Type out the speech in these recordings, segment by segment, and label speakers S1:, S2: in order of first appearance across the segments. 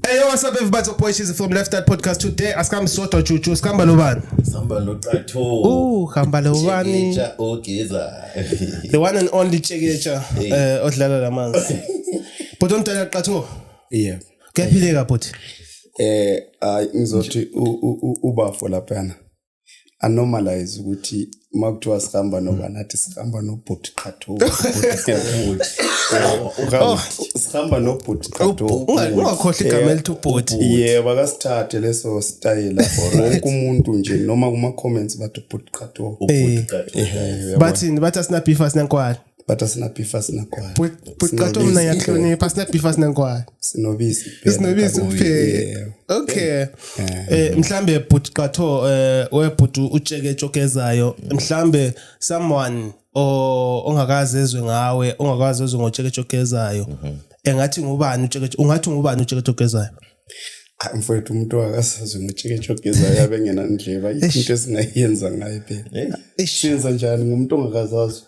S1: Hey, yo, what's up, everybody? It's Boy Cheesy from Left That Podcast. Today, asikhambi sodwa juju, sikhamba lobani? Samba locatho.
S2: Uh, khamba
S1: lobani? Chekecha ogeza. The one and only Chekecha, Hey. eh, odlala lamanzi. But omdala qatho, Yeah.
S3: kuyaphileka bhuti.
S1: Eh ay ngizothi
S3: u- u- u- ubafo laphana. anormalize ukuthi uma kuthiwa sihamba noba nathi sihamba nobhuti qhatho sihamba nobhuti qhatho ungakhohlwa igama
S1: elithi ubhuti yebo akasithathe
S3: leso stayela wonke umuntu nje noma kuma-comments bathi ubhuti qhatho
S1: bathini bathi asinabifa sinenkwala but asina beef
S3: asina kwaya buqatha mina
S1: yahlonipha asina beef asina kwaya sinobisi
S3: sinobisi kuphela
S1: okay eh mhlambe bhuti qatho eh webhuti utsheke tshokezayo mhlambe someone ongakazi ezwe ngawe ongakazi ezwe ngotsheke tshokezayo mhm. engathi ngubani utsheke ungathi ngubani utsheke tshokezayo ah,
S3: mfowethu umuntu wakasazi ngutsheke tshokezayo yabe ngena ndleba into esingayenza ngayo phela senza njani ngumuntu ongakazazi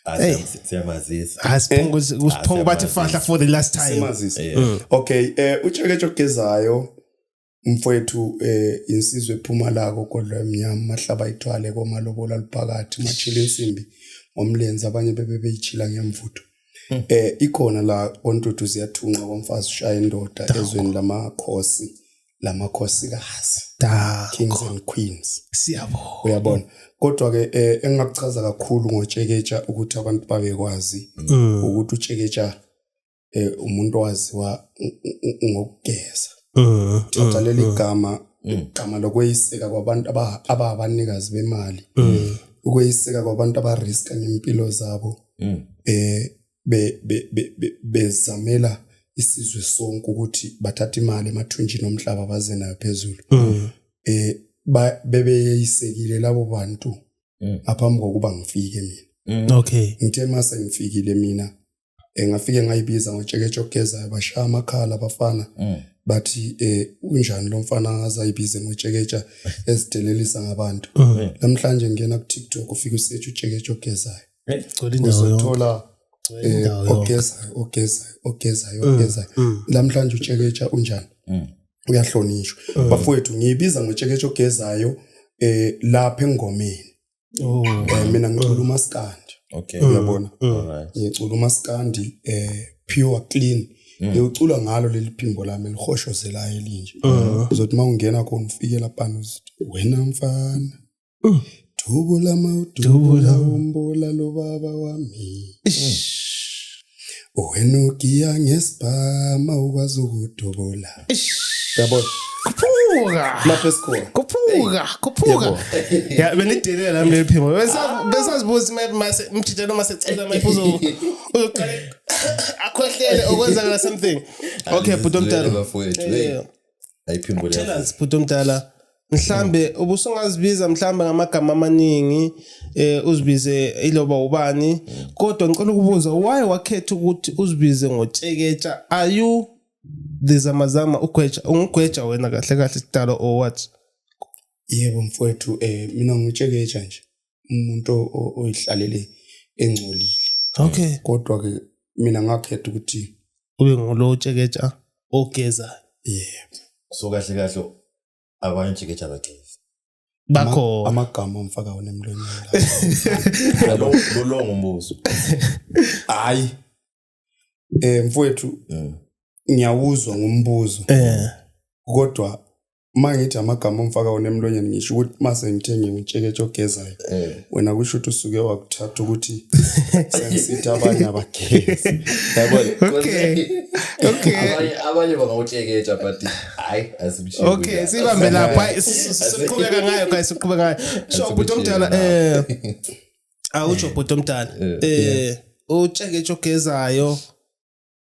S3: Ah, Hey. siyam-
S2: siyamazisa hayi siphunga usi- Ah,
S1: usiphunga bathi siyamazisa. fahla for the last time Simazisa. Yeah. Mm.
S3: okay eh utsheketshe ogezayo mfowethu eh insizwe ephuma la kogodlo emnyama mahlaba ithwale komalobola liphakathi machile insimbi ngomlenze abanye bebe beyichila ngemvutho Mm. eh ikhona la ontuthu ziyathunqa komfazi ushaya indoda ezweni lamakhosi lamakhosikazi kings and queens siyabona
S1: uyabona
S3: kodwa ke eh, engakuchaza kakhulu ngotsheketsha ukuthi abantu babekwazi mm. ukuthi utsheketsha eh, umuntu waziwa ngokugeza mm, thatha mm, leli gama igama lokweyiseka kwabantu ababanikazi bemali ukweyiseka kwabantu abariska ngempilo zabo eh be, be, be, be, bezamela isizwe sonke ukuthi bathathe imali emathunjini omhlaba baze nayo phezulu mm. eh ba bebeyisekile labo bantu mm. aphambi kokuba ngifike mina mm. okay ngithe mase
S1: ngifikile
S3: mina engafike eh, ngayibiza ngotsheketshe ogezayo bashaya amakhala abafana mm. bathi eh unjani lo mfana azayibize ngotsheketsha ezidelelisa ngabantu mm. namhlanje ngena ku TikTok ufika usethi utsheketshe ogezayo uzothola eh, ogezayo ogezayo ogezayo mm, ogezayo mm. namhlanje utsheketsha unjani mm. uyahlonishwa bafowethu ngiyibiza ngotsheketsha ogezayo eh lapha engomeni oh. eh, mina ngicula umaskandi okay uyabona ngicula umaskandi eh pure clean Mm. ngiyocula ngalo leli phimbo lami lihoshozelayo elinje mm. uzothi uma ungena khona ufikela pano wena mfana Uh. Dubula mawudubula umbula lo baba wami. Wena ugiya ngesibhama ukwazi ukudubula. Yabona. Khuphuka. Lapho esikhona.
S1: Khuphuka, khuphuka. Ya benidelela la mlephimo. Besa besazibuza map mase mthitha noma secela map uzo uzoqale akhohlele okwenzakala something. Okay, bhuti omdala. Bafowethu. Hey.
S2: ayiphimbo tell us bhuti omdala
S1: mhlambe ubusungazibiza mhlambe ngamagama amaningi eh uzibize iloba ubani kodwa ngicela ukubuza why wakhetha ukuthi uzibize ngotsheketsha are you lizamazama ugweja ungugweja wena kahle kahle sidalo or what yebo
S3: mfowethu eh mina ngitsheketsha nje umuntu oyihlalele engcolile okay
S1: kodwa ke
S3: mina ngakhetha ukuthi ube ngulo
S1: tsheketsha ogeza yebo
S3: so kahle kahle
S2: abanye tsheketsha bageza bakho
S1: amagama omfaka
S3: wona emlonyeni lo
S2: lo ngombuzo
S3: hayi eh mfowethu Mm. ngiyawuzwa ngombuzo Eh. kodwa uma ngithi amagama omfaka wona emlonyeni ngisho ukuthi uma sengithenge ngitsheketshe ogezayo Eh. wena kusho ukuthi usuke wakuthatha ukuthi sengisithi abanye abagezi Yabona? Okay. Okay.
S2: Abanye- abanye bangawutsheketsha but hayi asimshiyi Okay, kuya. sibambe
S1: lapha. Siqhubeka ngayo guys, siqhubeka ngayo. So Asimshiyi ubhuti omdala nawo. eh awutsho eh. bhuti omdala eh, eh utsheke ejogezayo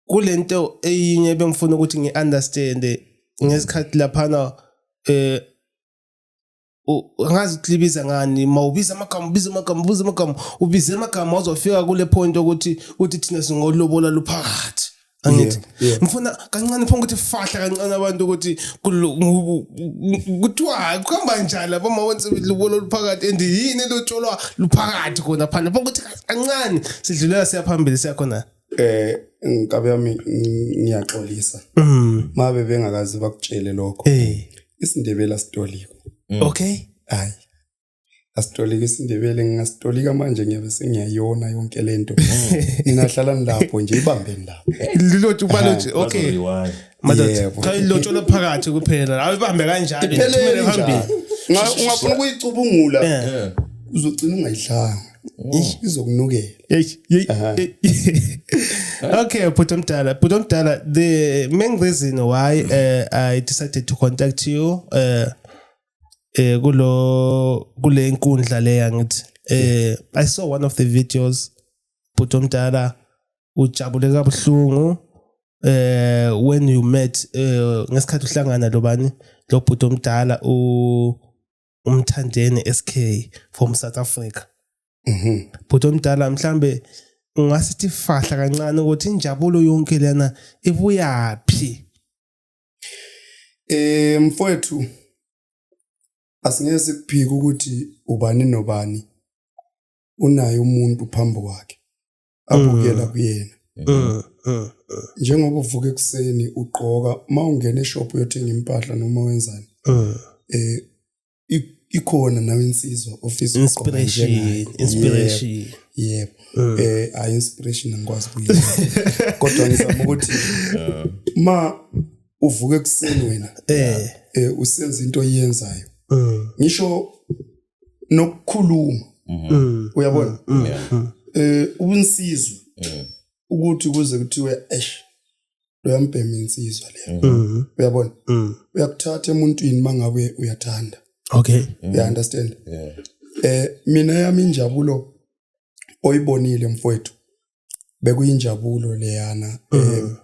S1: kulento eyinye bengifuna ukuthi ngiunderstand ngesikhathi laphana eh ngazi uklibiza ngani mawubiza amagama ubiza amagama ubiza amagama ubiza amagama uzofika kule point ukuthi ukuthi thina singolobola luphakathi angithi Yeah, yeah. ngifuna kancane phonga ukuthi fahla kancane abantu ukuthi kulo- ngu- ngu- kuthiwa kuhamba njani lapha uma wenza lubolo luphakathi and yini lotsholwa luphakathi khona phana phonga ukuthi kancane sidlulela siyaphambili siyakhona eh inkabi
S3: yami ng- ngiyaxolisa Mm. mabe bengakazi bakutshele lokho eh isindebela sitoliko okay
S1: hayi
S3: asitolika isindebele ngingasitolika manje ngiyabe sengiyayona yonke le nto ninahlala nilapho nje ibambeni lapho lilotshe ubalotshe
S1: okay cha ilotsholwa phakathi kuphela hayi ibambe kanjalo iphelele phambili
S3: ungafuna ukuyicubungula uzogcina ungayidlanga oh. izokunukela
S1: okay bhuti omdala bhuti omdala the main reason why uh, i decided to contact you uh, eh kulo kule inkundla leya ngithi eh i saw one of the videos bhuti omdala ujabule kabuhlungu eh when you met eh ngesikhathi uhlangana lobani lo bhuti omdala u umthandeni SK from South Africa mhm bhuti omdala mhlambe ungasithi fahla kancane ukuthi injabulo yonke lena ibuyaphi
S3: Eh mfowethu asingeke sikuphike ukuthi ubani nobani unaye umuntu phambi kwakhe abukela mm. kuyena mm, mm, njengoba uvuka ekuseni ugqoka uma ungena eshop uyothenga impahla noma wenzani eh ikhona nawe insizwa ofisa inspiration inspiration
S1: yebo mm.
S3: eh i inspiration angikwazi kuyiza kodwa ngizama ukuthi ma uvuke ekuseni wena eh, eh usenza into oyenzayo mm. ngisho nokukhuluma mm-hmm. mm. uyabona mm. eh unsizwa ukuthi kuze kuthiwe eish loyambhema insizwa leyo mm-hmm. uyabona mm. uyakuthatha emuntwini mangabe uyathanda okay mm. you
S1: understand
S3: yeah. eh mina yami injabulo oyibonile mfowethu bekuyinjabulo leyana mm. eh mm-hmm.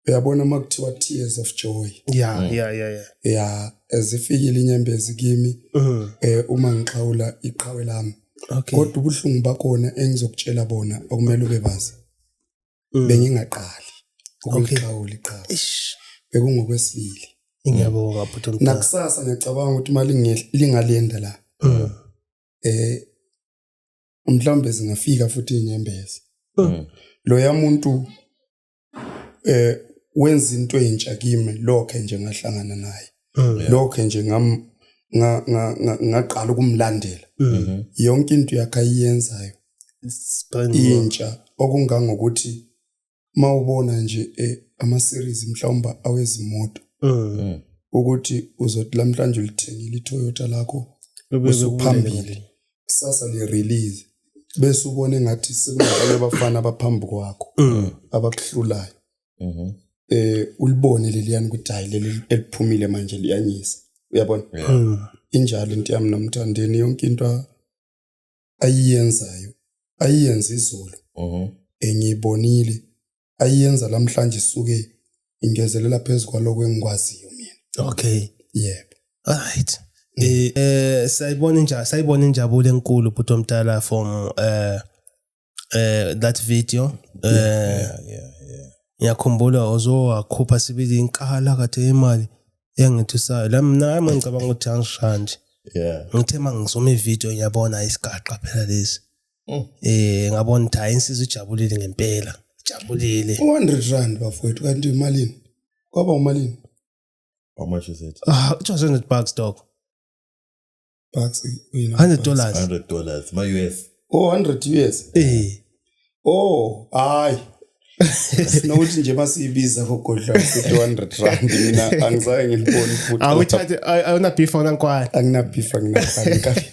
S3: uyabona makuthiwa tears of joy yeah mm. yeah yeah yeah yeah ezifikile inyembezi kimi mm. eh uma ngixhawula iqhawe lami okay kodwa ubuhlungu bakhona engizokutshela bona okumele ube bazi mm. bengingaqali ukulixawula iqhawe bekungokwesibili ngiyabonga
S1: bhuti omdala nakusasa ngiyacabanga
S3: ukuthi imali lingalinda la mm. eh mhlawumbe zingafika futhi inyembezi mm. mm. lo yamuntu eh wenza into entsha kimi lokho nje ngahlangana naye mm. lokho nje ngam ngaqala ukumlandela mm-hmm. yonke into yakhe ayiyenzayo intsha okungangokuthi mawubona nje eh, ama series mhlawumbe awezimoto mm. Mm. ukuthi uzothi lamhlanje ulithengile iToyota lakho usuphambili kusasa le release bese ubone ngathi sekunabantu abafana abaphambi kwakho mm. abakuhlulayo mhm. eh ulibone leliyani ukuthi hayi leli eliphumile manje liyanyisa uyabona hmm. injalo into yami nomthandeni yonke into ayiyenzayo ayiyenza izolo mhm. engiyibonile ayiyenza lamhlanje isuke ingezelela phezulu kwaloko engikwaziyo mina okay
S1: yebo
S3: alright
S1: mm. eh, eh sayibona injabulo sayibona injabulo enkulu bhuti omdala from eh eh that video eh yeah yeah yeah ngiyakhumbula ozowakhupha sibili inkala kade imali engithusayo la mina hayi mangicabanga ukuthi angisha nje yeah ngithe mangizoma ivideo ngiyabona isigaqa phela lesi Mm. eh ngabona ukuthi hayi insizwa ijabulile ngempela ijabulile 100 rand
S3: bafowethu kanti imalini kwaba umalini
S2: how much is it ah 200 bucks
S1: dog
S3: bucks uyena
S1: 100 dollars 100 dollars
S2: ma US oh 100 US
S3: eh oh hayi sinokuthi nje masiyibiza kogodla sithi 100 rand mina angisaye ngiliboni futhi awuthathe awuna
S1: beef awuna nkwani angina beef angina
S3: nkwani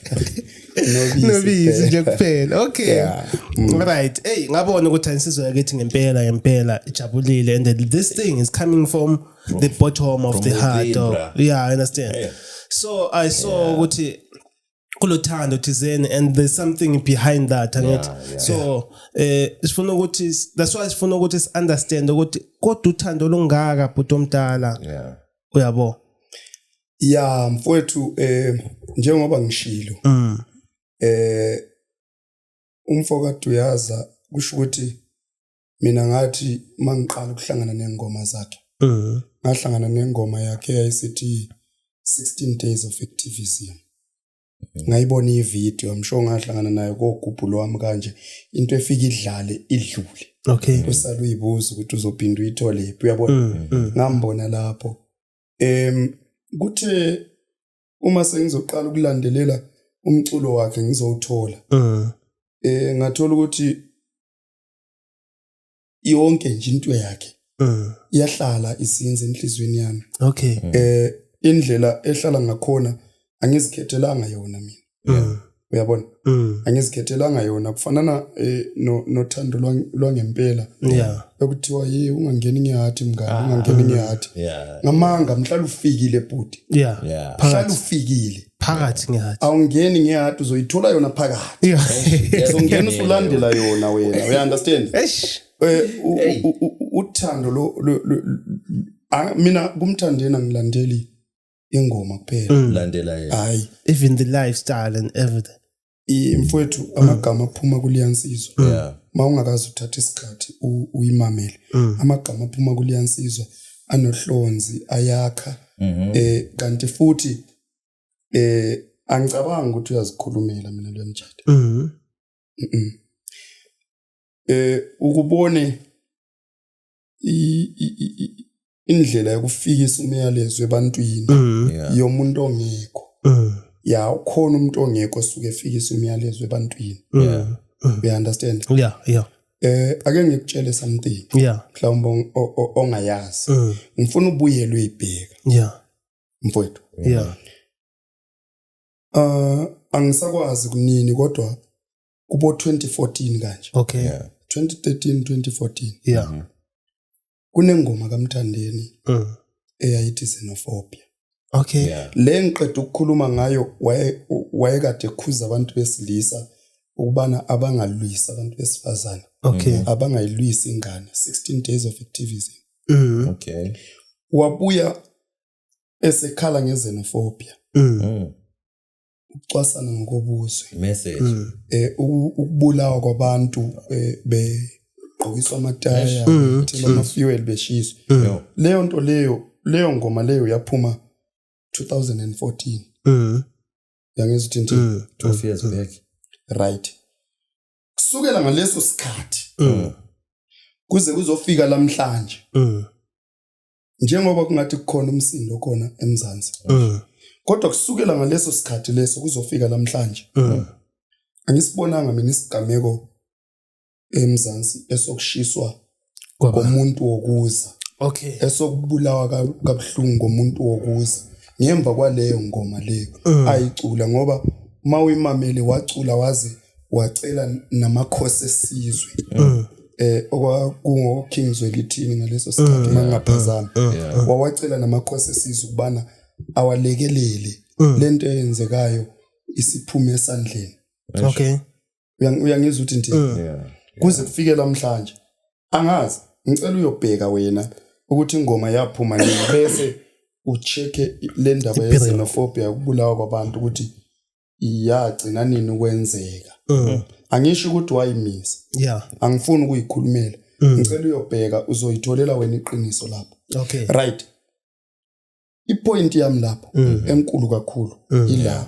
S1: nobisi nobisi nje kuphela okay yeah. mm. right hey ngabona ukuthi anisizwe yakithi ngempela ngempela ijabulile and this thing is coming from from, the bottom of the heart or, yeah i understand yeah. so i saw ukuthi yeah. kulothando thizeni and there's something behind that angithi yeah, yeah. so eh sifuna ukuthi that's why sifuna ukuthi si understand ukuthi kodwa uthando olungaka bhuti omdala yeah uyabo
S3: ya mfowethu eh njengoba ngishilo mm. eh umfoka Duyaza kusho ukuthi mina ngathi uma ngiqala ukuhlangana nengoma zakhe mhm. ngahlangana nengoma yakhe eyayisithi 16 days of activism ngayibona ividiyo msho ngahlangana nayo kogubhulo wami kanje into efika idlale idlule okay usale
S1: uyibuza
S3: ukuthi uzophinda uyithole phi uyabona mm, mm. ngambona lapho em kuthe uma sengizoqala ukulandelela umculo wakhe ngizowuthola mm. eh ngathola ukuthi yonke nje into yakhe mm. iyahlala isinze enhlizweni yami okay mm. eh
S1: indlela
S3: ehlala ngakhona angizikhethelanga yona mina mm. uyabona mm. angizikhethelanga yona kufanana eh, no nothando lwangempela yeah
S1: ekuthiwa yi
S3: ungangeni ngiyathi mngani ah. ungangeni ngiyathi ngamanga mhlala ufikile bhuti yeah mhlala
S1: ufikile
S3: phakathi ngehati
S1: awungeni ngehati
S3: uzoyithola yona phakathi uzongena
S1: usulandela
S3: yona wena uya understand eh,
S1: uthando
S3: lo mina kumthandeni angilandeli ingoma kuphela mm. landela yena hayi
S2: even the
S3: lifestyle
S1: and everything I- mfowethu
S3: Mm. amagama aphuma kuliyansizwa Yeah. ma ungakazi uthatha isikhathi u- uyimamele Mm. amagama aphuma kuliyansizwa anohlonzi ayakha Mhm. eh kanti futhi eh angicabangi ukuthi uyazikhulumela mina lo mtshado Mhm. Mhm. eh ukubone i- i- i- i- indlela yokufikisa imiyalezo ebantwini mm. yomuntu ongekho mm. ya ukhona umuntu ongekho osuke efikisa imiyalezo ebantwini mm. you understand yeah yeah
S1: eh ake
S3: ngikutshele something yeah mhlawumbe ongayazi ngifuna ubuyelwe ibheka yeah
S1: mfowethu yeah
S3: uh angisakwazi kunini kodwa kubo 2014 kanje okay yeah. 2013 2014 yeah mm -hmm.
S1: kunengoma
S3: kaMthandeni mm. eyayithi xenophobia okay
S1: yeah. le ngiqeda
S3: ukukhuluma ngayo wayekade ekhuza abantu besilisa ukubana abangalwisi abantu besifazane okay mm.
S1: abangayilwisi
S3: ingane 16 days of activism mm. okay
S2: wabuya
S3: esekhala ngezenophobia mm. mm. ukucwasana ngokobuzwe message
S2: mm. eh
S3: ukubulawa kwabantu eh, be gqokiswa amataya mm. thina ama mm. fuel beshiswa mm. leyo nto leyo leyo ngoma leyo yaphuma 2014 mm yangezithi nje 12 years back
S2: right
S3: kusukela ngaleso sikhathi kuze kuzofika lamhlanje njengoba kungathi kukhona umsindo khona emzansi mm. kodwa kusukela ngaleso sikhathi leso kuzofika namhlanje mm. angisibonanga mina isigameko emzansi esokushiswa komuntu wokuza okay
S1: esokubulawa
S3: kabuhlungu komuntu wokuza ngemva kwaleyo ngoma leyo mm. ayicula ngoba uma uyimamele wacula waze wacela namakhosi esizwe mm. eh okwakungo King Zwelithini ngaleso sikhathi mangaphazana mm. mm. wawacela namakhosi esizwe ukubana awalekelele lento eyenzekayo isiphume esandleni okay
S1: uyangizwa
S3: ukuthi nje kuze kufike namhlanje angazi ngicela uyobheka wena ukuthi ingoma yaphuma nini bese ucheke le ndaba ye-xenophobia ukubulawa kwabantu ukuthi yagcina nini ukwenzeka mm. angisho ukuthi wayimisa yeah angifuni
S1: ukuyikhulumela
S3: mm. ngicela uyobheka uzoyitholela wena iqiniso lapho okay right ipoint yami lapho mm. enkulu kakhulu mm. ila yeah.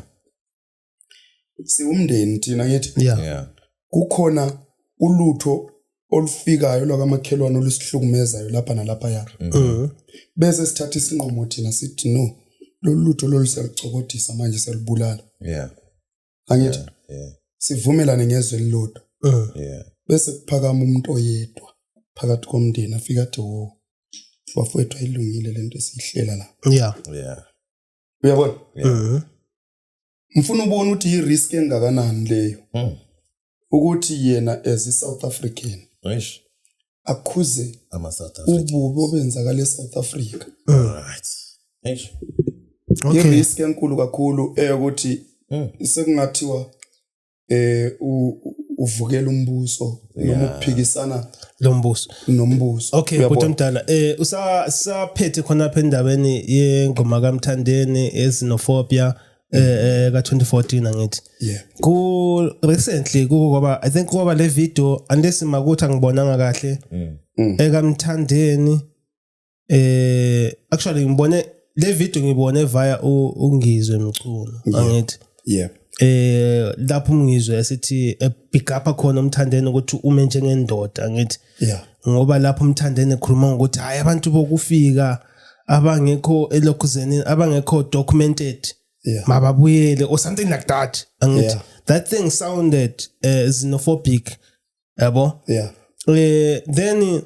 S3: siwumndeni thina ngithi yeah. yeah
S1: kukhona
S3: ulutho olufikayo lwakamakhelwane olusihlukumezayo lapha nalapha ya mm. bese sithatha isinqumo thina sithi no lolu lutho lolu siyalucokodisa manje siyalubulala yeah angithi yeah, yeah. sivumelane ngezwe elilodwa mm. yeah bese kuphakama umuntu oyedwa phakathi komndeni afika athi wo bafowethu ayilungile lento esiyihlela la yeah yeah
S1: uyabona yeah.
S3: Mm-hmm. ngifuna ubone ukuthi yi risk engakanani leyo hmm. ukuthi yena as i South African eish
S2: akhuze
S3: ama South Africa
S2: ububi obenzakala e
S3: South Africa right
S2: eish okay
S3: risk enkulu kakhulu eyokuthi hmm. sekungathiwa eh uvukela umbuso noma ukuphikisana lombuso
S1: nombuso okay
S3: bhuti omdala
S1: eh usaphethe khona lapha endaweni yengoma kaMthandeni ezinofobia eh, eh ka 2014 angithi yeah ku recently kuba i think kuba le video unless makuthi angibonanga kahle mm. mm. ekamthandeni eh actually ngibone le video ngibone via ungizwe mculo angithi yeah eh lapho umngizwe esithi eh, pick up khona umthandeni ukuthi ume njengendoda ngithi yeah ngoba lapho umthandeni ekhuluma ngokuthi hayi abantu bokufika abangekho elokhuzeni abangekho documented yeah. mababuyele or something like that angithi yeah. that thing sounded uh, xenophobic yabo yeah eh then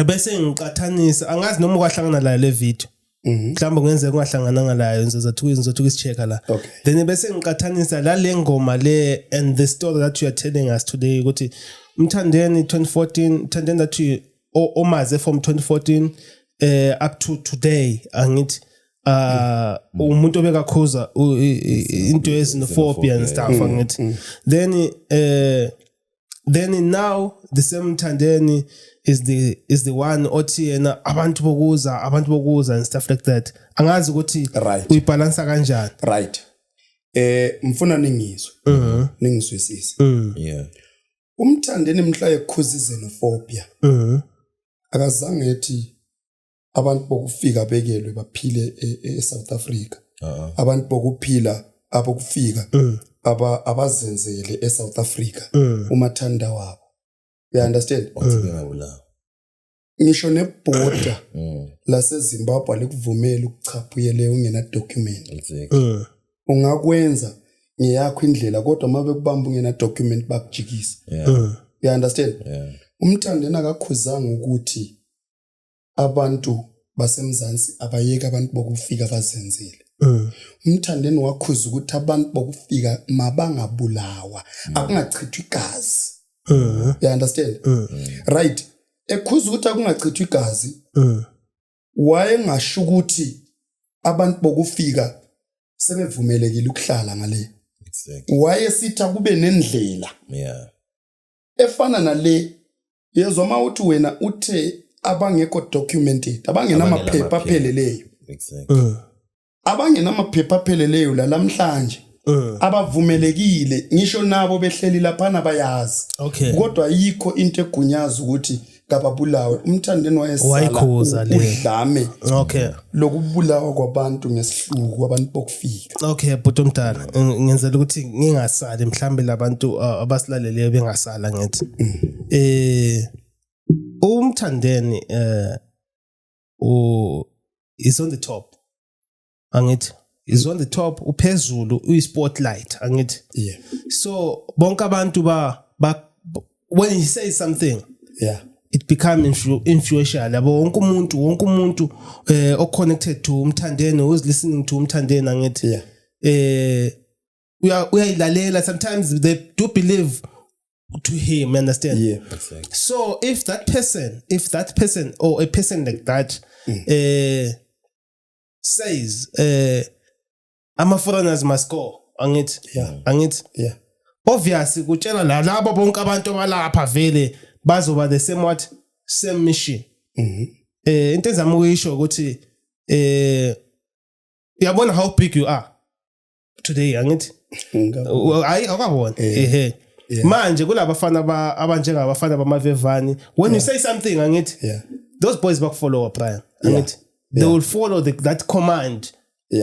S1: bese ngiqathanisa angazi noma kwahlangana la le video mhm. mhlawumbe kungenzeka kungahlangananga layo ngizothuka ngizothuka isicheka la then bese ngiqathanisa la le ngoma le and the story that you are telling us today ukuthi umthandeni 2014 mthandeni that you omaze from 2014 eh up to today angithi uh mm. umuntu obekakhuza into ezinophobia and stuff mm. angithi mm. then eh then now the same thandeni is the is the one othi yena abantu bokuza abantu bokuza and stuff like that angazi ukuthi right. uyibalansa kanjani right
S3: eh mfuna ningizwe mhm mm ningizwisise mm. yeah umthandeni mhla ekhuzize nofobia mhm akazange ethi abantu bokufika bekelwe baphile e- e- eSouth Africa Ah. abantu bokuphila abokufika Mm. aba abazenzele eSouth Africa Mm. umathanda wabo you understand wathi bengabulawa ngisho nebhoda mm. lasezimbabwe alikuvumeli ukuchapha uyele ungenadocument exactly. Mm. ungakwenza ngeyakho indlela kodwa uma bekubamba ungenadocument bakujikisa yeah. Mm. you understand yeah. umthandeni akakhuzanga ukuthi abantu basemzansi abayeke abantu bokufika bazenzele Mm. umthandeni wakhuza ukuthi abantu bokufika mabangabulawa mm. akungachithwa igazi mm. you understand mm. right ekhuza ukuthi akungachithwa igazi mm. wayengasho ukuthi abantu bokufika sebevumelekile ukuhlala ngale exactly. wayesitha kube nendlela yeah. efana nale yezwa uma uthi wena uthe abangekho documented abangenamaphepha apheleleyo exactly. uh. abangenamaphepha apheleleyo la namhlanje Eh. abavumelekile ngisho nabo behleli laphana bayazi Okay. kodwa yikho into egunyaza ukuthi kababulawe umthandeni wayesala Wayikhuza le. udlame okay lokubulawa kwabantu ngesihluku abantu bokufika okay bhuti omdala ng-
S1: ngenzela ukuthi ngingasali mhlawumbe labantu uh, abasilaleleyo bengasala ngithi eh umthandeni eh u is on the top angithi is on the top uphezulu uyi spotlight angithi yeah so bonke abantu ba, ba when he says something yeah it become influ influential yabo wonke umuntu wonke umuntu eh o connected to umthandeni who's listening to umthandeni angithi yeah eh uya- uyayilalela sometimes they do believe to him understand Yeah. so if that person if that person or a person like that uh, says uh, ama-foreigners must go angithi Yeah. angithi Yeah. obvious kutshela la- labo bonke abantu abalapha vele bazoba the same what same mission Mhm. eh into ezama ukuyisho ukuthi eh uyabona how big you are today angithi hayi akabona eh. ehe manje kulabafana abanjengabafana bamavevani when you say something angithi those boys bakufollowa brian angithi they will follow the, that command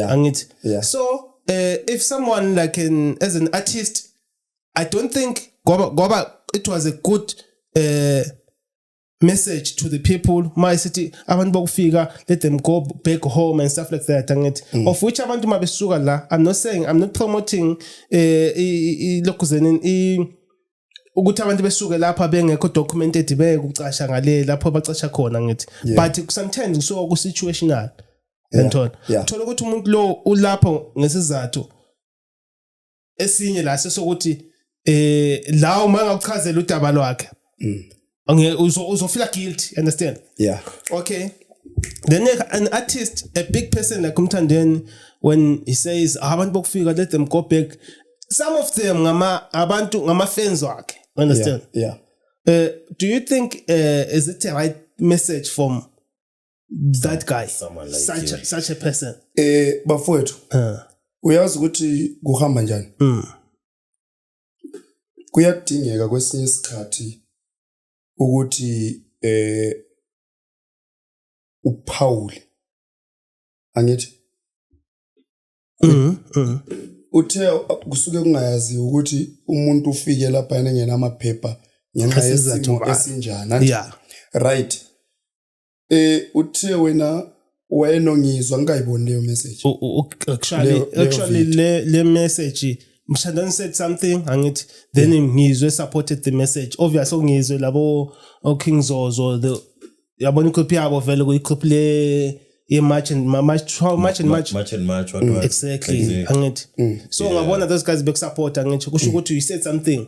S1: angithi so uh, if someone like an as an artist i don't think ngoba it was a good uh, message to the people uma isithi abantu bokufika let them go back home and stuff like that angithi mm. of which abantu mabesuka la i'm not saying i'm not promoting eh lokuzeni i ukuthi abantu besuke lapha bengekho documented bekucasha ngale lapho bacasha khona ngithi but sometimes kusuka ku situational ngithola thola ukuthi umuntu lo ulapho ngesizathu esinye la sesokuthi eh la uma ngakuchazela udaba lwakhe mm. nge uzofila guilty understand yeah okay then an artist a big person like umthandeni when he says ah, abantu bokufika let them go back some of them ngama abantu ngama fans wakhe understand yeah, yeah. Uh, do you think uh, is it a right message from that guy Someone like such, a, you. such a person eh bafowethu
S3: uh, uyazi ukuthi kuhamba njani mm, kuyadingeka kwesinye isikhathi ukuthi eh uphawule angithi mm, mm, uthe kusuke kungayazi ukuthi umuntu ufike lapha yena ngena amaphepha ngenxa Ngesinye isizathu yesimo bani. esinjani anti? yeah right eh uthe wena wayenongizwa ngikayiboni leyo message actually
S1: actually le le message mshandani said something angithi then yeah. ngizwe supported the message obviously ngizwe labo oking zozo the yabona ikhophi yabo vele kuyikhophi le ye march and march how march and march march and march what mm. exactly angithi mm. so yeah. ngabona those guys bekusupporta ngisho kusho mm. ukuthi you said something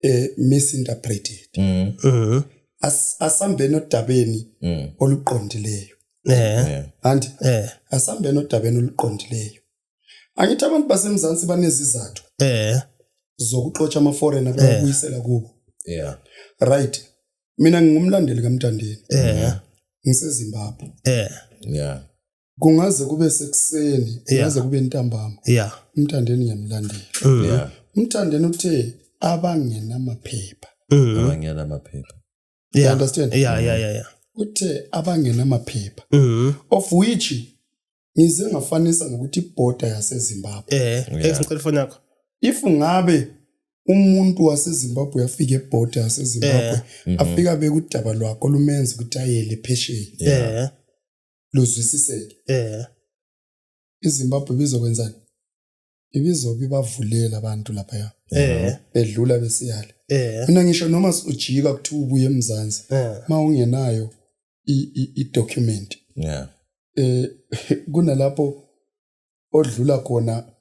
S3: eh misinterpreted mm. mm. As, asambeni odabeni mm. oluqondileyo eh and eh asambeni odabeni oluqondileyo angithi abantu basemzansi banezizathu eh zokuxotsha ama foreigner eh. beyabuyisela kubo yeah
S2: right
S3: mina ngingumlandeli kamntandeni eh ngisezimbabwe eh
S2: yeah kungaze
S3: kube sekuseni kungaze kube ntambama yeah umthandeni
S1: ngiyamlandela
S3: mm. yeah
S2: umthandeni uthe
S3: abangenamaphepha mm.
S2: abangenamaphepha yeah
S3: understand yeah yeah yeah, yeah.
S1: uthe
S3: abangenamaphepha mm. of which ngize ngafanisa ngokuthi border yaseZimbabwe eh ngicela ifoni yakho
S1: if ngabe
S3: umuntu waseZimbabwe afike eborder yaseZimbabwe eh. mhm. afika bekudaba lwakho lumenza ukuthi ayele phesheya yeah luzwisiseke eh iZimbabwe bizokwenzani ibizobe ibavulela abantu lapha ya eh bedlula besiyale eh mina ngisho noma ujika kuthiwa ubuye emzansi eh mawungenayo i document yeah
S2: eh kunalapho
S3: odlula khona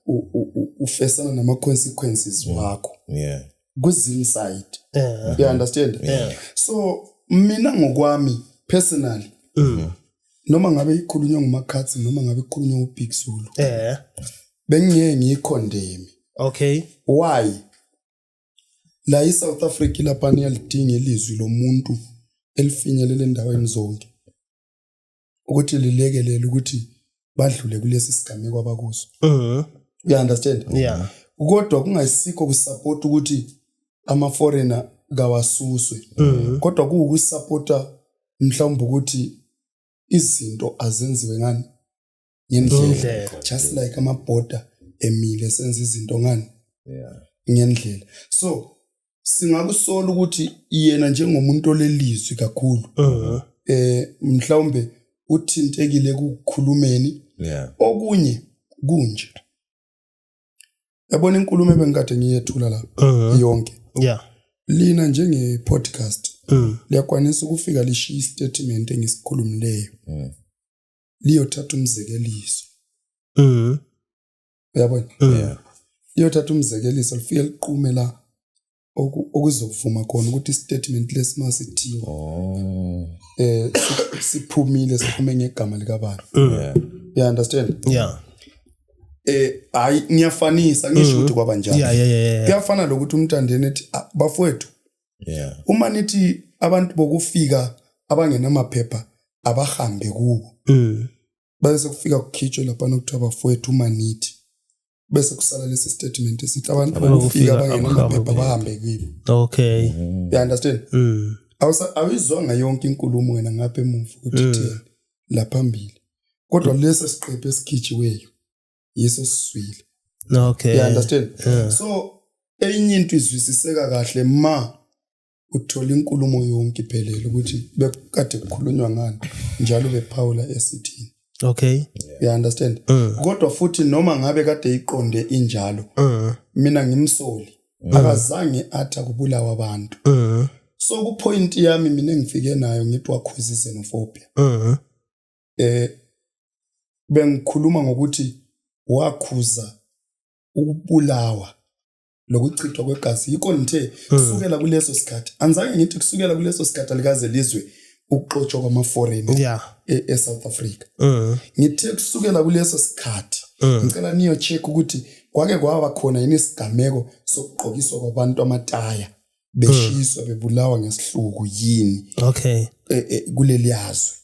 S3: ufesana nama consequences wakho yeah kuzini
S2: side
S3: yeah. you understand yeah. so mina ngokwami personally mm. noma ngabe ikhulunywa ngumakhathi noma ngabe ikhulunywa ubig zulu yeah bengiyeke ngiyikhondemi okay
S1: why
S3: la iSouth Africa lapha niyalidinga ilizwi lomuntu elifinyelele endaweni zonke ukuthi lilekelele ukuthi badlule kulesi sigameko abakuso mhm you understand yeah kodwa
S1: kungayisikho
S3: kusupport ukuthi ama foreigner kawasuswe mhm. kodwa kuwukusupporta mhlawumbe ukuthi izinto azenziwe ngani ngendlela just like ama border emile senza izinto ngani yeah ngendlela so singakusola ukuthi yena njengomuntu olelizwi kakhulu uh-huh. eh mhlawumbe uthintekile kukhulumeni yeah okunye kunje yabona inkulumo ebengikade ngiyethula la uh-huh. yonke yeah lina njenge podcast mm. liyakwanisa ukufika lishiya istatement engisikhulumileyo mm. liyothatha umzekeliso mhm uyabona mhm. yeah liyothatha umzekeliso lifike liqume la okuzovuma khona ukuthi istatement lesimasithi oh eh siphumile siphume ngegama lika bani mm. yeah you understand yeah eh hayi ngiyafanisa ngisho mm. ukuthi kwaba njalo yeah yeah yeah kuyafana lokuthi umntandeni ethi ah, bafowethu yeah uma nithi abantu bokufika abangenamaphepha abahambe kubo mm. bese kufika kukhitshwe lapha nokuthiwa bafowethu uma nithi bese kusala lesi statement esithi abantu bokufika abangenamaphepha bahambe kibo okay mm. you
S1: understand mm.
S3: awuyizwanga yonke inkulumo wena ngapha emuva ukuthi mm. thina la phambili kodwa mm. lesi siqephu esikhitshiweyo yesesiswile okay you
S1: understand
S3: yeah. so enye into izwisiseka kahle ma uthola inkulumo yonke iphelele ukuthi bekade kukhulunywa ngani njalo bephawula esithini okay
S1: you understand
S3: mm. kodwa futhi noma ngabe kade iqonde injalo mm. mina ngimsoli mm. akazange athi akubulawa abantu mm. so kupoint yami mina engifike nayo ngithi wakhuzise nophobia mm. eh bengikhuluma ngokuthi wakhuza ukubulawa lokuchithwa kwegazi yikho ngithe hmm. kusukela kuleso sikhathi anzange ngithi kusukela kuleso sikhathi alikaze lizwe ukuxotshwa kwamaforeign yeah. e, e South Africa mm. ngithe kusukela kuleso sikhathi mm. ngicela niyo check ukuthi kwake kwaba khona yini isigameko sokugqokiswa kwabantu amataya beshiswa mm. bebulawa ngesihluku yini okay e, e, kuleli
S1: yazwe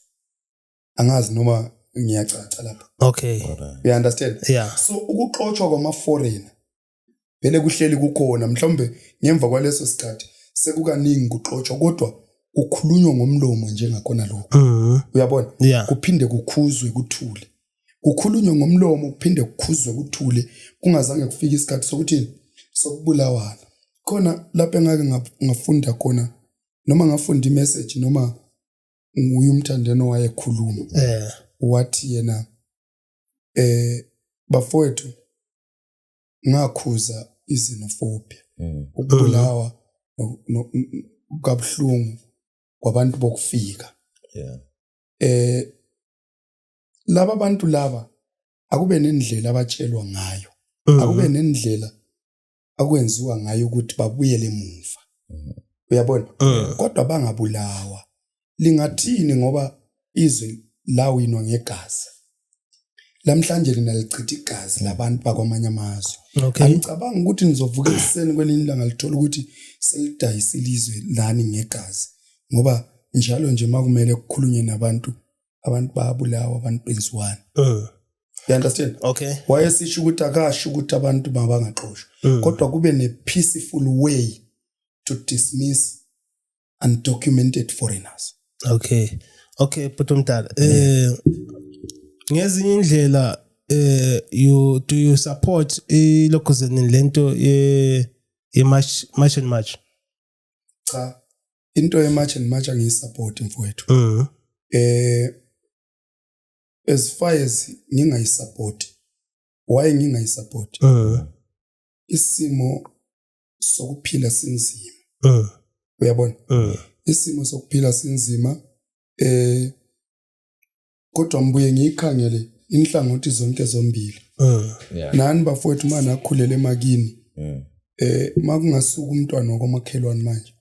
S3: angazi noma ngiyacaca lapha okay you
S1: understand
S3: yeah so ukuxotshwa kwama foreigner vele kuhleli kukhona mhlawumbe ngemva kwaleso sikhathi sekukaningi kuxotshwa kodwa kukhulunywa ngomlomo njengakhona lokho mm-hmm. uyabona yeah. kuphinde
S1: kukhuzwe
S3: kuthule kukhulunywe ngomlomo kuphinde kukhuzwe kuthule kungazange kufike isikhathi sokuthi sokubulawana khona lapho engake ngafunda khona noma ngafunda imessage noma nguye umthandeno wayekhuluma eh wathi yena eh bafowethu ngakhuza izinofobia mm. ukubulawa kabuhlungu kwabantu bokufika
S2: yeah eh
S3: laba bantu laba akube nendlela abatshelwa ngayo mm-hmm. akube nendlela akwenziwa ngayo ukuthi babuyele emuva mhm. uyabona eh. kodwa bangabulawa lingathini ngoba izwe lawinwa ngegazi lamhlanje lina lichitha igazi labantu bakwamanye amazwe okay. angicabanga ukuthi nizovuka ekuseni kwelinye ilanga lithola ukuthi selidayisa ilizwe lani ngegazi ngoba njalo nje makumele kukhulunywe nabantu abantu babulawa abantu benziwani mm. you understand okay wayesisho
S1: ukuthi akasho
S3: ukuthi abantu mabangaxoshwa mm. kodwa kube ne peaceful way to dismiss undocumented foreigners okay
S1: okay bhuti omdala eh ngezinye indlela eh you do you support ilokhuzeni lento ye ye march march and march cha
S3: into yematch and match angiyisupport mfowethu mhm eh as far as ngingayisupport why ngingayisupport mhm isimo sokuphila sinzima mhm uyabona mhm isimo sokuphila sinzima eh kodwa ngibuye ngiyikhangele inhlangothi zonke zombili mm. yeah. nani bafowethu uma nakhulele emakini mm. eh uma kungasuka umntwana wakwamakhelwane manje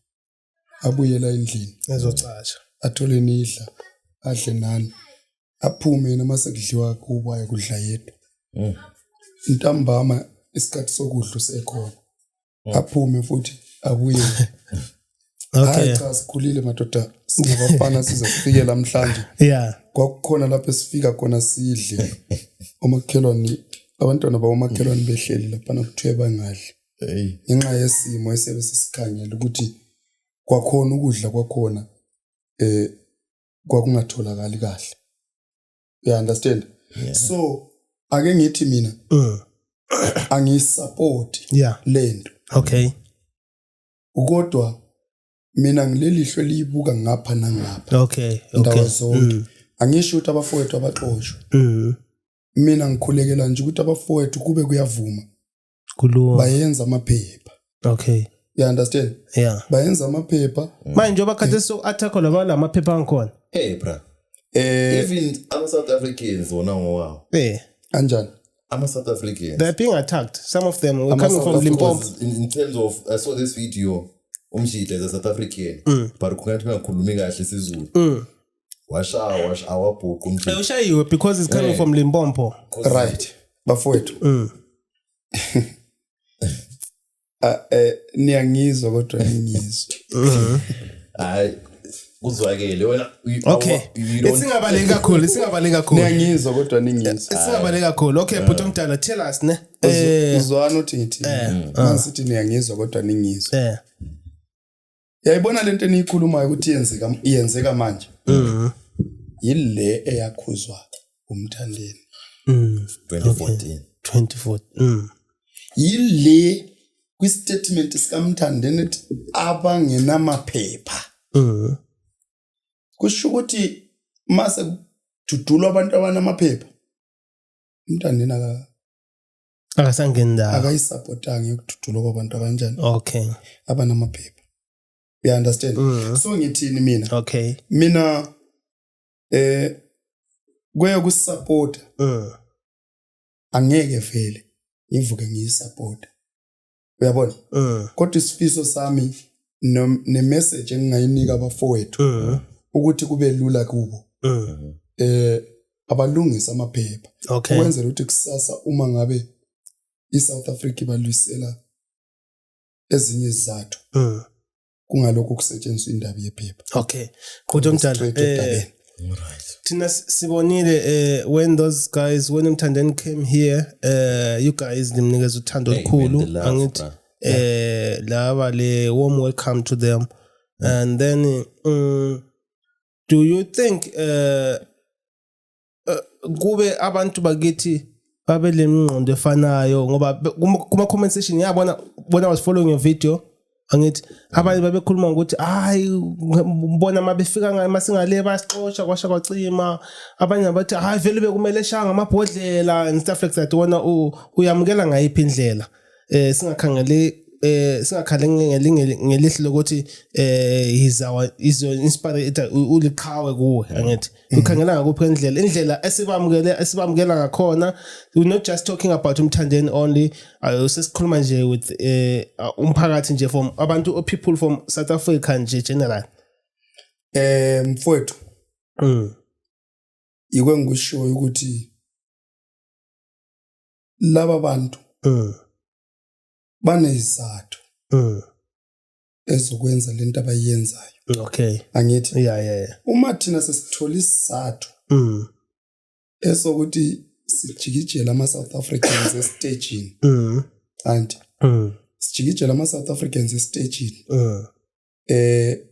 S3: abuyela endlini ezocasha
S1: athole nidla
S3: adle nani aphume yena uma sekudliwa kubo ayekudla yedwa mm. ntambama isikhathi sokudla usekhona mm. aphume futhi abuye
S1: okay cha sikhulile
S3: madoda singabafana size kufike lamhlanje yeah kwakukhona
S1: lapho
S3: esifika khona sidle omakhelwane abantwana bawomakhelwane mm. behleli lapha nakuthiwe bangadli ngenxa yesimo esebe sisikhangele ukuthi kwakhona ukudla kwakhona eh kwakungatholakali kahle you understand yeah. so ake ngithi mina mm. angiyisupport yeah. lento okay ukodwa mina ngilelihlo liyibuka ngapha nangapha okay okay zonke
S1: mm.
S3: angisho ukuthi abafowethu abaxoshwe mm. mina ngikhulekela nje ukuthi abafowethu kube kuyavuma kulunga
S1: bayenza amaphepha
S3: okay
S1: you understand
S3: yeah bayenza
S1: amaphepha
S3: manje njengoba khathesi so
S1: attack laba lamaphepha angikhona hey bra
S2: eh even ama South Africans wona ngowawo eh anjani
S3: ama South
S2: Africans they're being attacked
S1: some of them were coming from Limpopo in, in terms of
S2: I saw this video umjita is a South African mm. but kungathi ngakhulumi kahle isiZulu mm. washaya wash awabhuqa umjita ushayiwe because it's coming
S1: from limbompo right
S3: bafowethu mm. Ah, eh, niyangizwa kodwa ningizwa mm-hmm. hayi
S2: kuzwakele wena okay
S1: isingabaleki kakhulu isingabaleki kakhulu niyangizwa
S3: kodwa ningizwa isingabaleki kakhulu okay
S1: eh. bhuti omdala tell us ne eh. uzwana uthi
S3: ngithi eh. manje sithi niyangizwa kodwa ningizwa yayibona lento eniyikhulumayo ukuthi yenzeka yenzeka manje mhm yile eyakhuzwa umthandeni mhm 2014 24
S2: mhm yile
S3: kwistatement sikamthandeni ethi abangenamaphepha mhm kusho ukuthi mase kududulwa abantu abanamaphepha umthandeni aka
S1: akasangeni ndawo akayisupportanga
S3: yokududulwa kwabantu abanjani okay
S1: abanamaphepha
S3: you understand mm -hmm. so ngithini mina okay mina eh kweye kusupport mm. angeke vele ngivuke ngiyisupport uyabona mm. kodwa isifiso sami ne message engingayinika abafowethu mm. ukuthi kube lula kubo mm. eh abalungisa amaphepha okay. ukwenzela ukuthi kusasa uma ngabe iSouth Africa ibalwisela ezinye izizathu mm. kungalokho kusetshenziswa indaba yephepha okay qhutho
S1: mdala eh
S3: right
S2: thina
S1: sibonile eh when those guys when umthandeni came here eh you guys nimnikeza uthando olukhulu angithi eh laba le warm welcome to them and then um, do you think uh eh, kube abantu bakithi babe lemingqondo efanayo ngoba kuma comment section yabona bona was following your video angithi abanye babekhuluma ngokuthi hayi ngibona mabefika ngayo masingale basixosha kwasha kwacima abanye bathi hayi vele bekumele shaya ngamabhodlela and stuff like that wona uyamukela ngayiphi indlela eh singakhangeli eh singakhale ngelihlo lokuthi eh is our is your inspirator uliqhawe kuwe mm. angithi mm. ukhangela ngakuphi indlela indlela esibamukele esibamukela ngakhona we not just talking about umthandeni only usesikhuluma nje with eh umphakathi nje from abantu people from South Africa nje general eh mfowethu
S3: mm. ikwe ngisho ukuthi laba bantu mm. banezizathu mm. ezokwenza lento abayenzayo okay angithi
S1: yeah yeah,
S3: yeah. uma
S1: thina sesithola
S3: isizathu mm. esokuthi sijikijela ama South Africans estagini mm. anti mm. sijikijela ama South Africans estagini mm. eh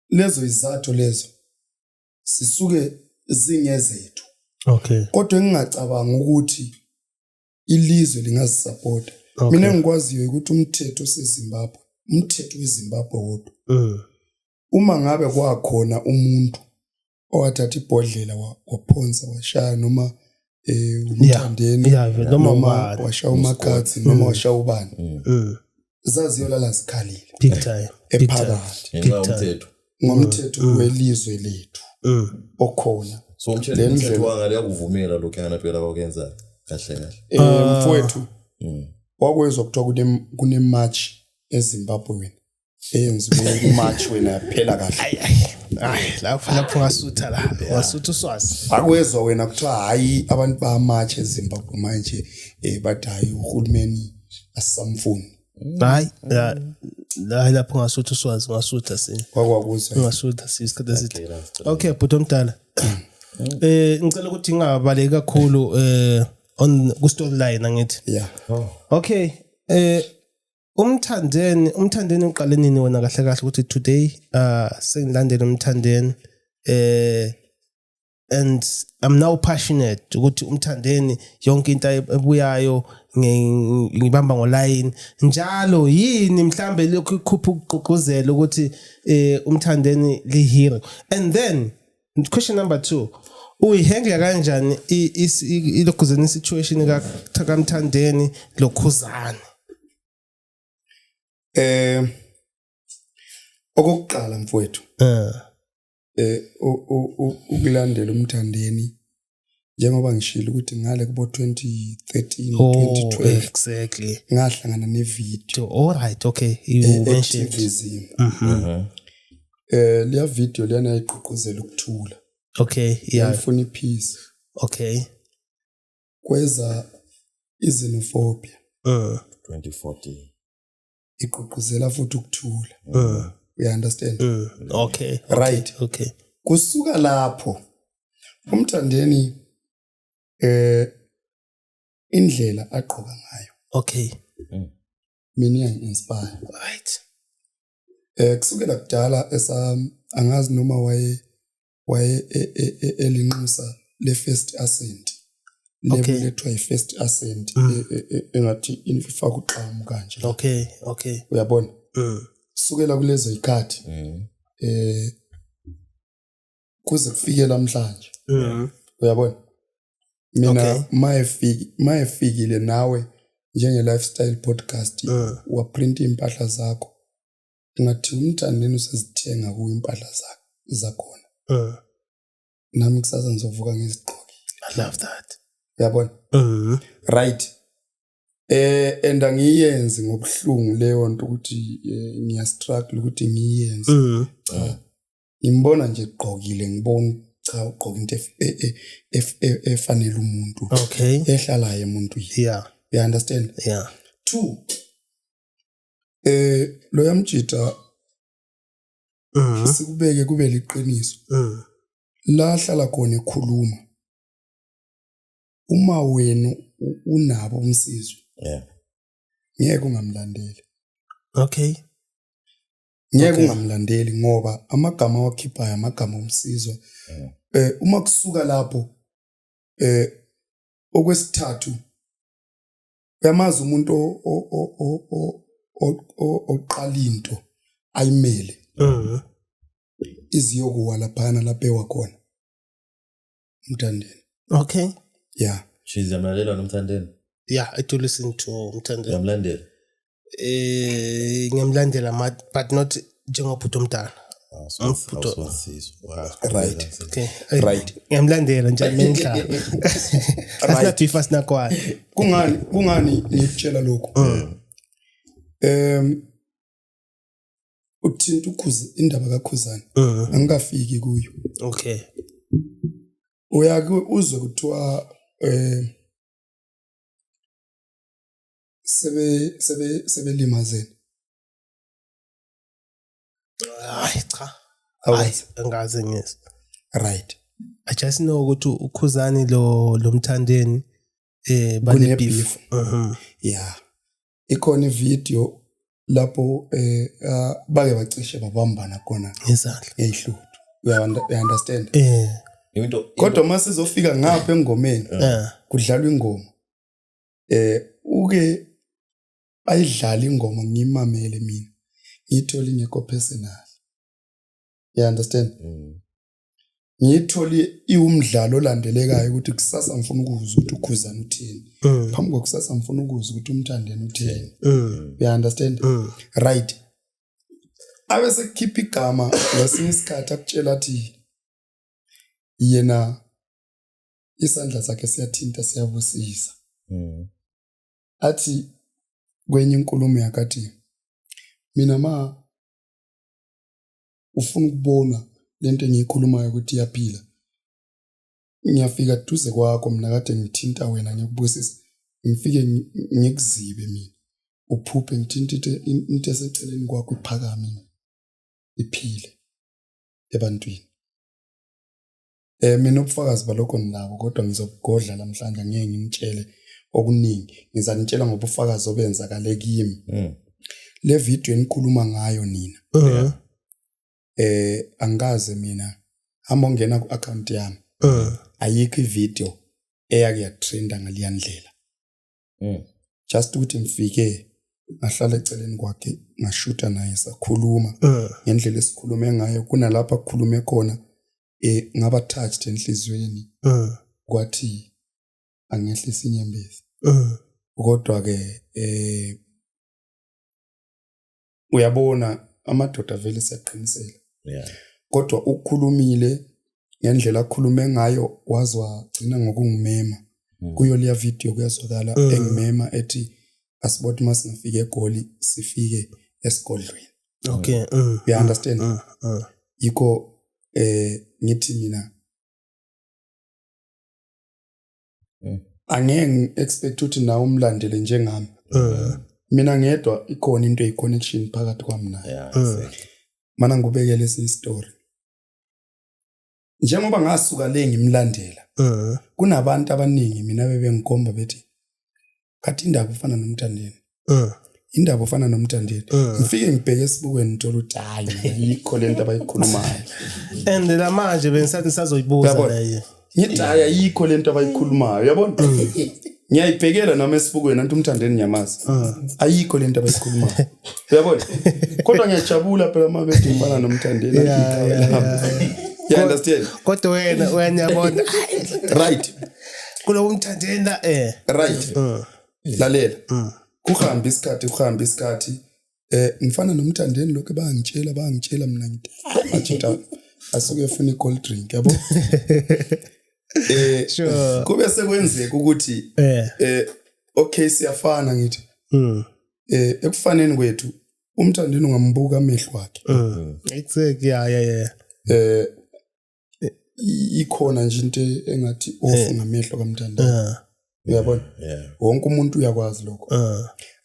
S3: lezo izathu lezo sisuke zingezethu okay
S1: kodwa engingacabanga
S3: ukuthi ilizwe lingazisapota okay. mina ngikwaziyo ukuthi umthetho osezimbabwe umthetho wezimbabwe wodwa mm. uma ngabe kwakhona umuntu owathatha ibhodlela waphonsa washaya noma eh umthandeni yeah, yeah, noma ubani washa umakhathi noma mm. washa ubani mm. mm. zaziyolala zikhalile big time
S1: ephakathi
S2: ngomthetho ngomthetho mm.
S3: welizwe lethu mm. okhona so umthetho
S2: umthetho wangale yakuvumela lokho yana phela bakwenza kahle kahle eh ah. mfowethu
S3: wakwezwa kuthiwa kune kune march eZimbabwe eyenza umatch wena yaphela kahle Ay ay. Ay lapho
S1: lapho wasutha la. Wasutha uswazi. akwezwa wena kuthiwa
S3: hhayi abantu bamatch ezimbabwe manje um bathi hhayi uhulumeni asisamfuni Hayi.
S1: la- Hayi lapho ngasutha uswazi ngasutha sini. kwakwakuzwa
S3: Ngasutha sini isikhathi
S1: eside. Okay bhuti omdala. Eh ngicela ukuthi ngingabaleki kakhulu eh on ku storyline angithi. ya Okay. Eh umthandeni umthandeni uqale nini wona kahle kahle ukuthi today uh sengilandele umthandeni eh and i'm now passionate ukuthi umthandeni yonke into ebuyayo ngibamba ngolayini njalo yini mhlambe lokhu ikhupha ukugqugquzela ukuthi eh umthandeni lihero and then question number 2 uyihandle kanjani ilokhuzeni situation ka Thakamthandeni lokhuzani eh
S3: okokuqala mfowethu eh, eh ukulandela umthandeni njengoba ngishilo ukuthi ngale kubo 2013 oh, 2012 exactly
S1: ngahlangana ne
S3: video all right okay
S1: you e, mentioned Zim uh mhm. -huh.
S3: Mhm. eh leya video lena igqugquzela ukuthula okay yeah
S1: ngifuna ipeace
S3: okay kweza izinophobia uh
S2: 2014
S3: igqugquzela futhi ukuthula mm. you understand mm. okay
S1: right okay
S3: kusuka lapho umthandeni eh indlela agqoka ngayo okay
S1: mm.
S3: mina inspire right
S1: eh
S3: kusukela kudala esa angazi noma waye waye e, e, e, elinxusa le first ascent okay. lebethwa i first ascent mm. engathi ifaka uxamu kanje okay okay
S1: uyabona
S3: mm. sukela kulezo ikhathi mm. eh kuze kufike namhlanje mm. uyabona mina okay. mayefiki mayefikile nawe njenge lifestyle podcast mm. waprint impahla zakho ngathi umthandeni usezithenga kuwe impahla zakhe zakhona uh. nami kusasa ngizovuka ngizigqoke i love that
S1: uyabona
S3: uh. right eh and angiyenzi ngobuhlungu leyo nto ukuthi eh, ngiya struggle ukuthi ngiyenze uh. cha ngimbona nje gqokile ngibona cha ugqoka into e, e, efanele umuntu okay ehlalayo
S1: umuntu
S3: yeah you understand yeah two Eh lo yamjita Mhm. sikubeke kube liqiniso. Mhm. La hlala khona ekhuluma. Uma wenu u- unabo umsizwe Yeah. ngeke ungamlandeli. Okay. Ngeke Okay. ungamlandeli ngoba amagama awakhiphayo amagama omsizwa. Mm. Eh uma kusuka lapho eh okwesithathu uyamazi umuntu oqala into ayimele mhm. iziyokuwa laphana lapho ewakhona umthandeni okay ya she's yamlalela
S2: nomthandeni ya i do
S1: listen to umthandeni yamlandela
S2: eh
S1: ngiyamlandela but not njengobhuti omdala ngiyamlandela
S3: njani
S1: nendlala asinathifa sinakwana kungani kungani
S3: ngikutshela lokhu um uthinta ukhuza indaba kakhuzana uh-huh. angikafiki kuyo
S1: okay
S3: uyake uzwe kuthiwa eh sebe sebe sebelimazene
S1: hayi cha hayi angaze
S3: ngiyes
S1: right i
S3: just
S1: know ukuthi ukhuzani lo lomthandeni eh bane beef mhm
S3: yeah ikhona ivideo lapho eh ah, bake bacishe babambana khona ngezandla eyihluthu you understand eh into
S2: kodwa uma sizofika
S3: ngapha engomeni eh. kudlalwa ingoma eh uke bayidlala ingoma ngiyimamele mina ngiyithole ingekho personal you understand mm. ngiyithole iwumdlalo olandelekayo ukuthi kusasa ngifuna ukuzwa ukuthi ukhuzana uthini mm. phambi kokusasa ngifuna ukuzwa ukuthi umthandeni uthini mm. you understand mm. right abe sekukhipha igama ngesinye isikhathi akutshela athi yena isandla sakhe siyathinta siyabusisa mm. athi kwenye inkulumo yakathi mina ma ufuna ukubona lento engiyikhulumayo ukuthi iyaphila ngiyafika duze kwakho mina kade ngithinta wena ngikubusisa ngifike ngikuzibe mina uphuphe ngithinta into eseceleni kwakho iphakame iphile ebantwini Eh mina ubufakazi balokho nginabo kodwa ngizobugodla namhlanje ngeke ngimtshele okuningi. Ngizanitshela ngobufakazi obenzakale kimi. Mm. Le video enikhuluma ngayo nina. Uh -huh. Eh angikaze mina hamba ungena ku account yami. Uh -huh. Ayikho ivideo eyake yatrenda ngaliya ndlela. Mm. Just ukuthi ngifike ngahlala eceleni kwakhe ngashutha naye sakhuluma eh. ngendlela esikhulume ngayo kunalapha kukhulume khona eh ngaba touched enhlizweni eh kwathi angehlisa inyembezi eh kodwa ke eh uyabona amadoda vele siyaqinisela yeah kodwa ukukhulumile ngendlela akhulume ngayo wazwa gcina ngokungimema hmm. kuyo leya video kuyazwakala eh. engimema ethi asiboti masingafika egoli sifike esigodlweni okay
S1: mm, you understand
S3: mm, mm. yikho eh ngithi mina Mm. angeke ngi-expect ukuthi nawe umlandele njengami Mm, mina ngedwa ikhona into eyi-connection phakathi kwami naye yeah Mm. exactly mana ngikubekele esinye isitori njengoba ngasuka le ngimlandela eh. kunabantu abaningi mina bebengikhomba bethi kathi indaba ufana nomthandeni eh. indaba ufana nomthandeni eh. ngifike ngibheke esibukweni ngithola ukuthi hayi yikho le nto abayikhulumayo and la
S1: manje bengisathi ngisazoyibuza leye ngithi hayi ayikho
S3: le nto abayikhulumayo yabona ngiyayibhekela noma esibukweni anti umthandeni ngiyamazi ah. ayikho lento abayikhulumayo uyabona kodwa ngiyajabula phela uma bedimfana nomthandeni you understand kodwa wena
S1: uyanyabona right
S3: kulowo
S1: umthandeni la eh right
S3: mm. lalela mm. kuhambe isikhathi kuhambe isikhathi Eh ngifana nomthandeni lokho bangitshela bangitshela mina ngithi ajita asuke efuna i-cold drink yabo. Eh
S1: sure. kube sekwenzeka
S3: ukuthi eh eh okay siyafana ngithi. Mm. Eh ekufaneni kwethu umthandeni ungambuka amehlo akhe. Mm. Exactly
S1: yeah yeah yeah. Eh eh,
S3: ikhona nje into engathi off eh. ngamehlo kamntanda eh. uyabona wonke umuntu uyakwazi lokho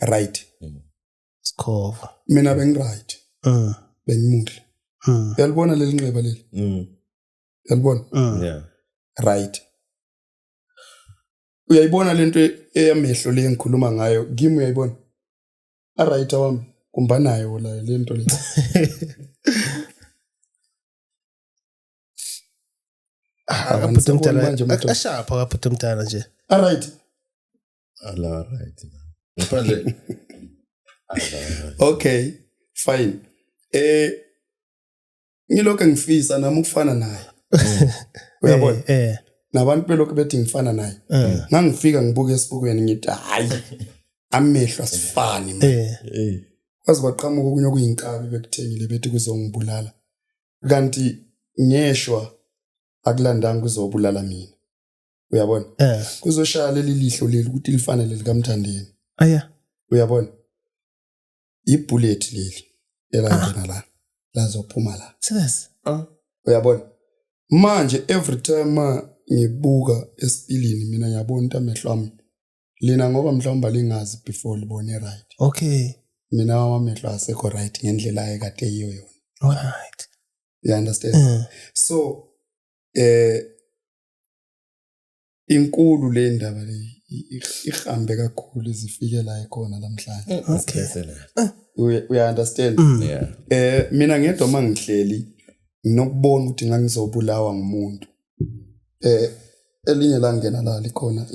S3: right mm.
S1: sikhova mina bengiright
S3: bengimuhle mm. uyalibona leli nxeba leli mm. uyalibona
S2: right
S3: uyayibona lento eyamehlo le ngikhuluma ngayo kimi uyayibona aright wami kumbanayo la lento le
S1: Abhuti omdala manje umuntu. ashapha kabhuti omdala nje Alright.
S2: Ala right. Ngaphandle. Ala right.
S3: Okay, fine. Eh ngilokho ngifisa nami ukufana naye. Uyabona? Eh, eh Nabantu belokho bethi ngifana naye. eh, Ngangifika ngibuke esibukweni ngithi hayi amehlo asifani man. eh Hey. Kwaze kwaqhamuka okunye okuyinkabi bekuthengile bethi kuzongibulala. kanti ngeshwa akulandanga uzobulala mina uyabona eh kuzoshaya leli lihlo leli ukuthi lifanele likamthandeni aya
S1: uyabona
S3: ibullet leli elangena ah. la lazophuma la serious ah
S1: uyabona
S3: manje every time ngibuka esipilini mina ngiyabona into amehlo ami lina ngoba mhlawumbe lingazi before libone right okay
S1: mina wamamehlo
S3: asekho right ngendlela ayekade yiyo yona all right you
S1: understand
S3: mm. so eh inkulu le ndaba le ihambe kakhulu izifike la ikhona namhlanje mm, okay ah.
S1: uya understand
S3: mm. yeah. eh
S2: mina ngedwa
S3: mangihleli nokubona ukuthi ngangizobulawa ngumuntu eh elinye la ngena la likhona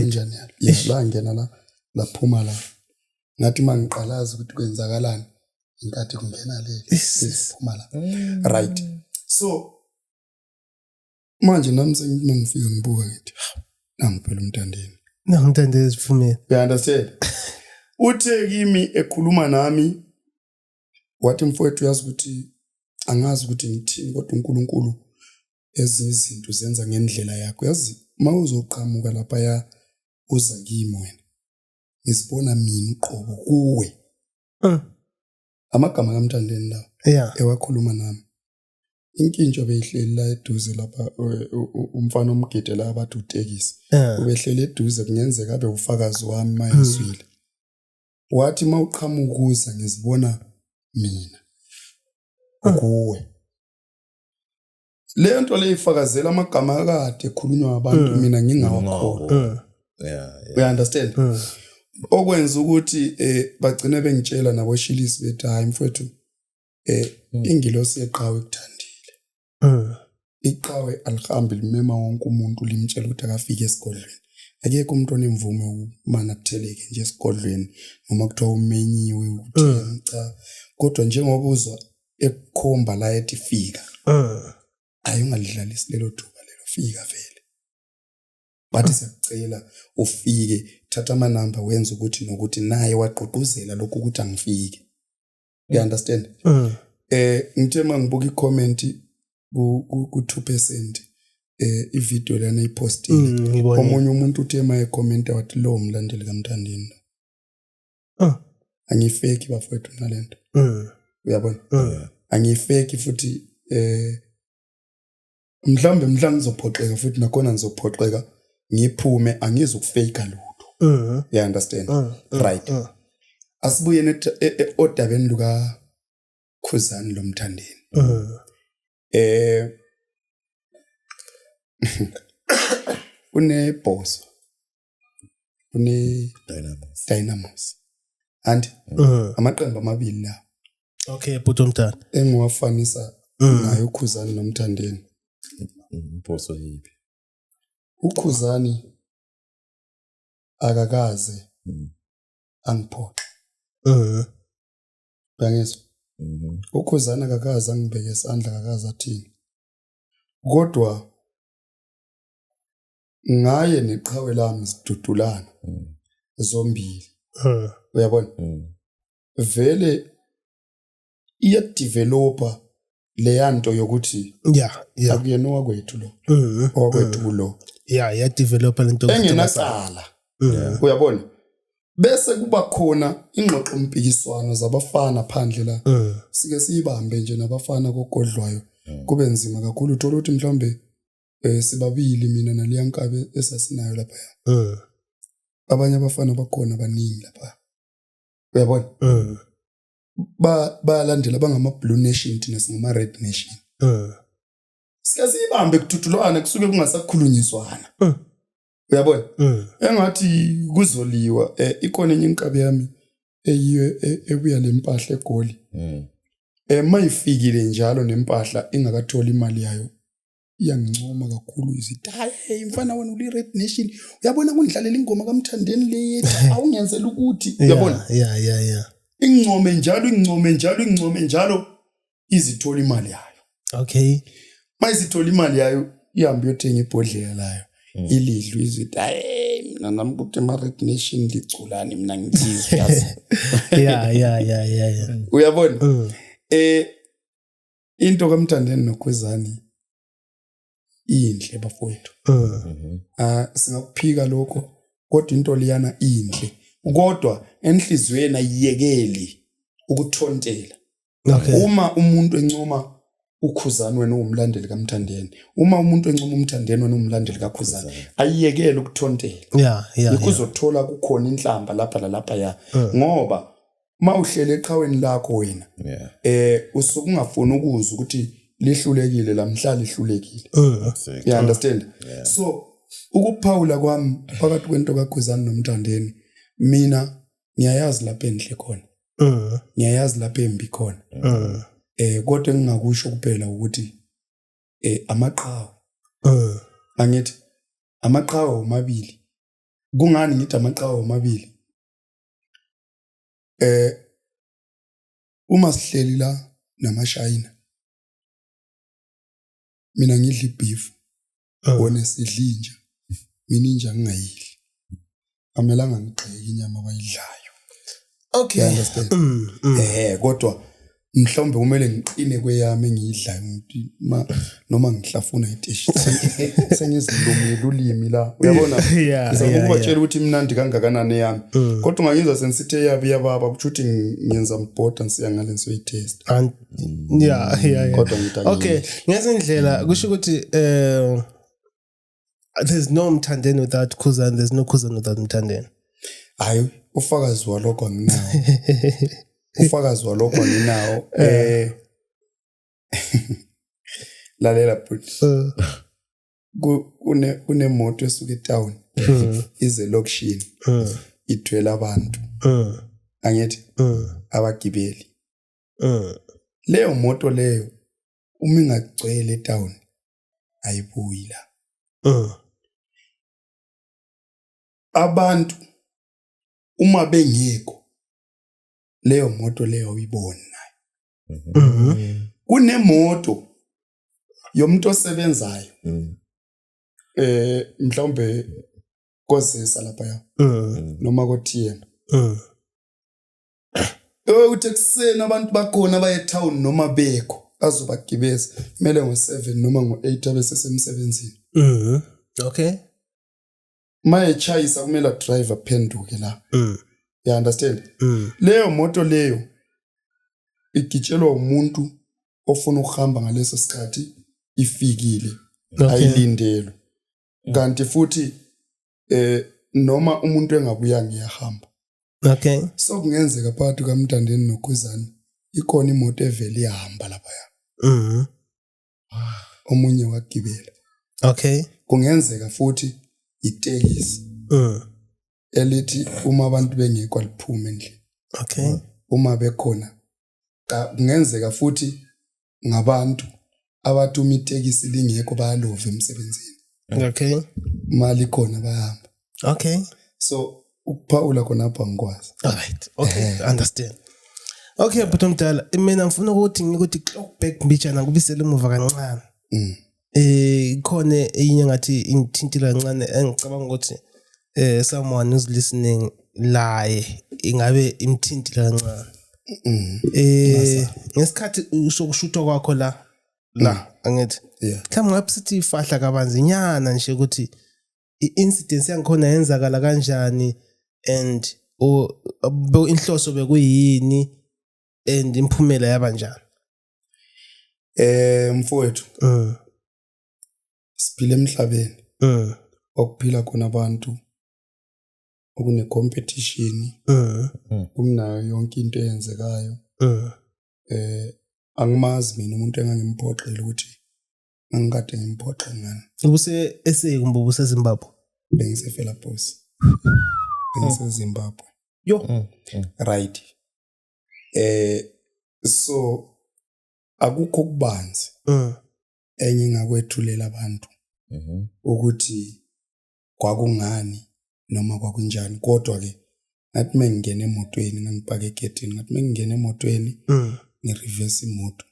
S3: injani yes la ngena la laphuma la ngathi mangiqalaza ukuthi kwenzakalani inkathi kungena le isiphuma la mm. right so manje nami sengimangifika ngibuka ngithi nangiphela umntandeni nangimntandeni
S1: siphumela you understand
S3: uthe kimi ekhuluma nami wathi mfowethu uyazi ukuthi angazi ukuthi ngithini kodwa uNkulunkulu ezinye izinto zenza ngendlela yakho yazi uma uzoqhamuka lapha ya uza kimi wena ngizibona mina uqobo kuwe uh. amagama kamthandeni la yeah. ewakhuluma
S1: nami
S3: inkintsho beyihleli la eduze lapha umfana omgide la abathi utekisi ubehleli eduze kungenzeka abe ufakazi wami mayezwile wathi uma uqhamuka ukuza ngizibona mina ah. kuwe le nto le ifakazela amagama akade ekhulunywa abantu eh. mina ngingawakhona eh. yeah,
S2: yeah. we understand
S3: eh. okwenza ukuthi eh bagcine bengitshela naboshilisi bethi hayi mfowethu eh hmm. ingilosi yeqhawe ekuthandile Mm. Iqhawe alihambi limema wonke umuntu limtshela ukuthi akafike esigodlweni. Akekho umuntu onemvume umana kutheleke nje esigodlweni noma kuthiwa umenyiwe ukuthi mm. cha kodwa njengoba uzwa ekukhomba la ethi fika. Mm. Ayi ungalidlalisi lelo thuba lelo fika vele. Bathi siyakucela ufike thatha amanamba wenza ukuthi nokuthi naye wagqugquzela lokhu ukuthi angifike. you understand mm. eh ngithe mangibuka icomment ku ku 2% eh ivideo lana ipostile mm, omunye umuntu uthe maye comment wathi lo mlandeli kamthandini ah angifeki bafowethu nalento mm. uyabona mm. angifeki futhi eh mhlawumbe mhlawumbe ngizophoxeka futhi nakhona ngizophoxeka ngiphume angizi ukufeyika lutho mhm. you understand mhm. Mhm. right asibuyeni e, e, odabeni luka khuzani lomthandeni eh unebhoso kune-dynamos dynamos anti mm. amaqembu amabili lawo okay bhuti
S1: omdala engiwafanisa
S3: mm. naye ukhuzani nomthandeni
S2: mposo yiphi
S3: ukhuzani akakaze mm. angiphoxe eh uyangizwa mm-hmm. ukhuzani akakaze angibheke isandla akakaze athini kodwa ngaye neqhawe lami sidudulana mm. zombili eh. uyabona mm. vele iyadevelopa leyanto yokuthi ya ya akuyena wakwethu lo mm-hmm. wakwethu mm-hmm. lo ya ya developa
S1: lento engenacala
S3: mm-hmm. uyabona bese kuba khona ingxoxo mpikiswano zabafana phandle la sike siyibambe nje nabafana kogodlwayo kube nzima kakhulu uthola ukuthi mhlawumbe eh sibabili mina naliya nkabe esasinayo lapha mm. abanye abafana bakhona baningi lapha uyabona mm. ba bayalandela bangama blue nation thina singama red nation mm. siyazibambe kuthutulwana kusuke kungasakhulunyiswana mm. uyabona mm. engathi kuzoliwa eh, ikona enye inkabi yami eyiyo e, ebuya lempahla egoli mm. eh mayifikile njalo nempahla ingakatholi imali yayo iyangincoma kakhulu izithi hayi hey mfana wena uli red nation uyabona kundlalela ingoma kamthandeni le yethi awungenzela ukuthi uyabona yeah yeah yeah ingcome njalo ingcome njalo ingcome njalo izithola imali yayo okay
S1: mayizithola
S3: imali yayo ihambe yothenga ibhodlela layo mm. ilidlu izithi hayi mina nami kuthi ma red nation ligculani mina ngithizwe yeah yeah yeah yeah uyabona mm. eh into kamthandeni nokhwezani inhle bafowethu mhm. ah singakuphika lokho kodwa into liyana inhle kodwa enhlizweni ayiyekeli ukuthontela uma umuntu encoma ukhuzani wena uwumlandeli kamthandeni uma umuntu encoma umthandeni wena uwumlandeli kakhuzani ayiyekele ukuthontela yeah, yeah, yikho uzothola kukhona inhlamba lapha lalapha ya uh. ngoba uma uhlele eqhaweni lakho wena yeah. eh usuke ungafuni ukuzwa ukuthi lihlulekile lamhla lihlulekile uh, you understand yeah. so ukuphawula kwami phakathi kwento kaGwezani nomthandeni mina ngiyayazi lapha endle khona uh, ngiyayazi lapha embi khona uh, eh kodwa engingakusho kuphela ukuthi eh amaqhawe uh, angithi amaqhawe omabili kungani ngithi amaqhawe omabili eh uma sihleli la namashayina mina ngidla ibeef ah. wona sidla inja mina inja ngingayidli amelanga ngigxeke inyama abayidlayo okay
S1: understand mm,
S3: mm. eh kodwa mhlawumbe kumele ngiqine kweyami engiyidlayo ngithi ma noma ngihlafuna iteshi sengizilumile ulimi la uyabona ngizama ukubatshela ukuthi imnandi kangakanani eyami mm. kodwa ungangizwa sengisithi eyabi yababa kusho ukuthi ngiyenza mbhoda ngisiya ngale ngisoyitesta
S1: kodwa ngidakile okay ngezindlela kusho ukuthi um there's no mthandeni without khuzani there's no khuzani without mthandeni hayi
S3: ufakazi walokho nginawo ufakazi walokho nginawo eh lalela bhuti uh. kune kunemoto esuka etown uh. ize lokishini uh. ithwele abantu angithi abagibeli leyo moto leyo uma ingagcwele etown ayibuyi la mm. abantu uma bengekho leyo moto leyo uyiboni nayo mm-hmm. kunemoto yomuntu osebenzayo mm. eh mhlawumbe kozisa lapha ya mm. noma kothiyena Uthe kuseni abantu bakhona abaye etown noma bekho azobagibeza kumele ngo-7 noma ngo-8 abe sesemsebenzini mhm
S1: okay
S3: uma echayisa kumele adrive aphenduke la mm. you understand mm. leyo moto leyo igitshelwa umuntu ofuna ukuhamba ngaleso sikhathi ifikile okay. ayilindelwe kanti futhi eh noma umuntu engabuya ngiyahamba okay
S1: so kungenzeka
S3: phakathi kamntandeni nokhuzani ikona imoto evele ihamba lapha ya mhm ah, omunye wagibela okay
S1: kungenzeka
S3: futhi itekisi mhm elithi uma abantu bengekho aliphume endlini okay
S1: uma bekhona
S3: kungenzeka futhi ngabantu abathi uma itekisi lingekho bayalova emsebenzini okay
S1: mali khona
S3: bayahamba okay
S1: so
S3: ukuphawula khona apha ngikwazi all right okay eh.
S1: understand okay bhuti omdala mina ngifuna ukuthi ngikuthi back mbijana ngibisele emuva kancane mm. eh khona enye ngathi ingithintile kancane engicabanga ukuthi eh someone is listening laye ingabe imthintile kancane mm-hmm. eh ngesikhathi sokushutha kwakho la la mm. angithi mhlawumbe ngabe sithi ifahla kabanzinyana nje ukuthi i-incidence yangikhona yenzakala kanjani and inhloso bekuyini and imphumela yaba njani Eh
S3: mfowethu. Mm. Siphila emhlabeni. Mm. Okuphila khona abantu okune competition. Mm. mm. Kumnayo yonke into eyenzekayo. Mm. Eh angimazi mina umuntu engangimphoxela ukuthi ngangikade ngimphoxe ngani. Ubuse ese
S1: kumbe ubuse Zimbabwe? Bengise Fela
S3: Boss. Bengise Zimbabwe. Yo. Mm. mm.
S1: Right.
S3: eh so akukho kubanzi mm. enye ingakwethulela abantu mhm. ukuthi kwakungani noma kwakunjani kodwa ke ngathi mengingena emotweni ngangipake egedini ngathi mengingena emotweni mm. ngireverse imoto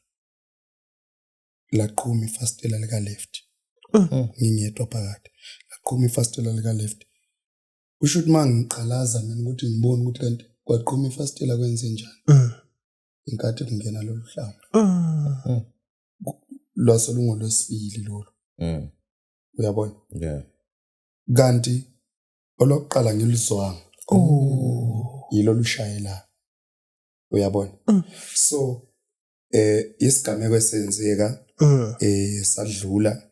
S3: laqhuma ifastela lika left mm. ngingedwa phakathi laqhuma ifastela lika left kusho ukuthi uma ngiqalaza mina ukuthi ngibone ukuthi kanti kwaqhuma ifastela kwenze njani mm. inkathi kungena lolu hlanga mm. lwase lungolwesibili lolu mm. uyabona yeah. kanti olokuqala ngilizwanga oh. yilo lushayela uyabona mm. so eh isigameko esenzeka mm. eh sadlula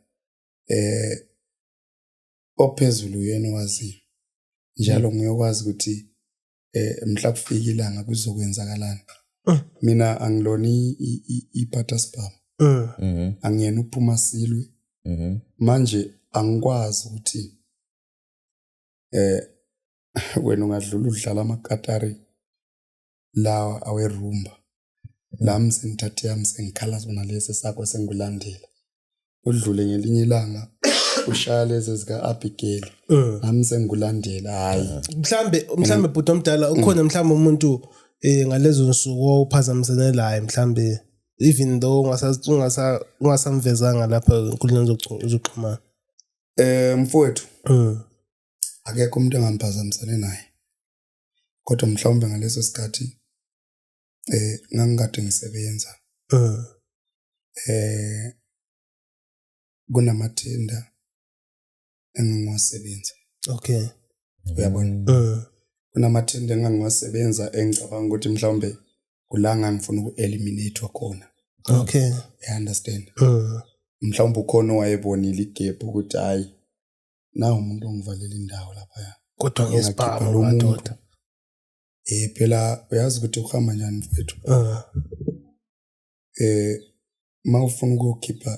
S3: eh ophezulu uyena owaziyo njalo nguye okwazi ukuthi eh mhla kufika ilanga kuzokwenzakalani mm. mina angilona ibutter spam mm. mm-hmm. angiyena uphuma silwe mm-hmm. manje angikwazi ukuthi eh wena ungadlula udlala amakatari lawa awerumba lami sengithathe yami sengikhala sona lesi sakho sengilandela udlule ngelinye ilanga ushaya lezi zika-abigail eh. nami sengikulandela hhayi mhlambe mhlambe
S1: bhuti omdala ukhona mhlambe umuntu um ngalezo nsuku owuphazamisene layo mhlambe even though ungasamvezanga lapha enkundleni zokuxhumana um
S3: mfowethu eh. akekho umuntu engamphazamisane naye kodwa mhlawumbe ngaleso sikhathi eh ngangikade ngisebenza mm. eh kunamathinda engingawasebenza okay
S1: uyabona mm.
S3: kunamathinda engingawasebenza engicabanga ukuthi mhlawumbe kulanga ngifuna uku-eliminate khona okay
S1: i understand
S3: mm. mhlawumbe ukhona owayebonile igebhu ukuthi hayi nawu umuntu ongivalela indawo laphaya kodwa ke sibaba
S1: madoda eh
S3: phela uyazi ukuthi uhamba njani mfethu ah. eh uma ufuna ukukhipha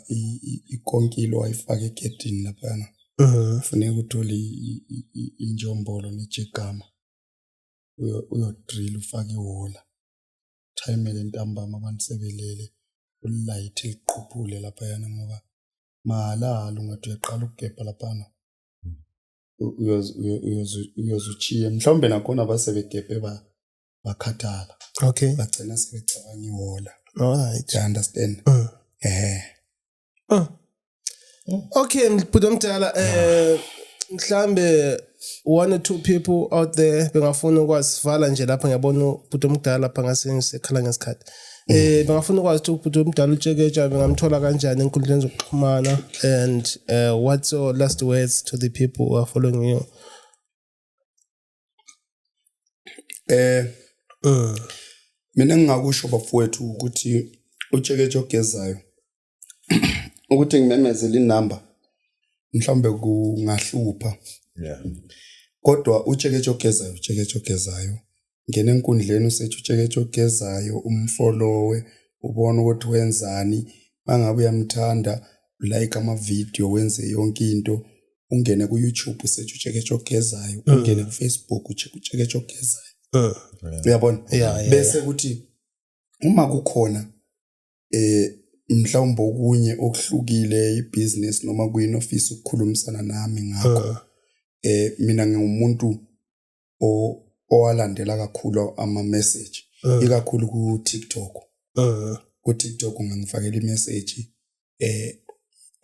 S3: ikonkilo ayifake egedini laphana Uh-huh. funeka uthole injombolo nejegama uyodrila ufake iwola thayimele ntambama abantu sebelele ulilayithe liqhuphule laphayana ngoba mahalahalo ngathi uyaqala ukugebha laphana uyozuchiye mhlawumbe nakhona basebegebhe bakhathala okay bagcina
S1: sebecabanga
S3: iwola right i
S1: understand
S3: mm. eh
S1: uh. okay bhuti omdala eh mhlambe one or two people out there bengafuna ukwasivala nje lapha ngiyabona ubhuti omdala lapha ngasengisekhala ngesikhathi um eh, bengafuna ukwazi ukuthi ubhuti omdala utsheketsha bengamthola kanjani enkundleni zokuxhumana and uh, what's your last words to the people who are following you
S3: eh mm. mina ngingakusho bafowethu ukuthi utsheketsha ogezayo ukuthi ngimemezele inamba mhlawumbe kungahlupha yeah kodwa utsheketshe ogezayo utsheketshe ogezayo ngena enkundleni usethi utsheketshe ogezayo umfolowe ubona ukuthi wenzani mangabe uyamthanda like ama video wenze yonke into ungene ku YouTube usethi utsheketshe ogezayo mm. ungene ku Facebook utsheketshe ogezayo mm. uyabona bese ukuthi uma kukhona eh mhlawumbe okunye okuhlukile ibusiness noma kuyini ofisa ukukhulumisana nami ngakho uh. eh mina ngingumuntu o owalandela kakhulu ama message uh. ikakhulu ku TikTok uh. ku TikTok ngangifakela i message eh,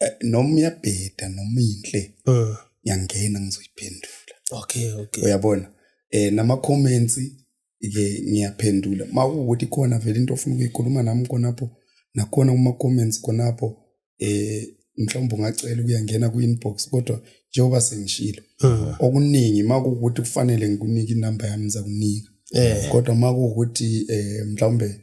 S3: eh noma uyabheda noma inhle uh. ngiyangena ngizoyiphendula okay okay
S1: uyabona
S3: eh nama comments ke ngiyaphendula uma kuwukuthi khona vele into ofuna ukuyikhuluma nami khonapho nakhona kuma-comments khonapho eh mhlawumbe ungacela ukuyangena kwi-inbox kodwa njengoba sengishilo hmm. okuningi uma kuwukuthi kufanele ngikunike inamba yami ngizakunika eh. kodwa uma kuwukuthi um mhlawumbe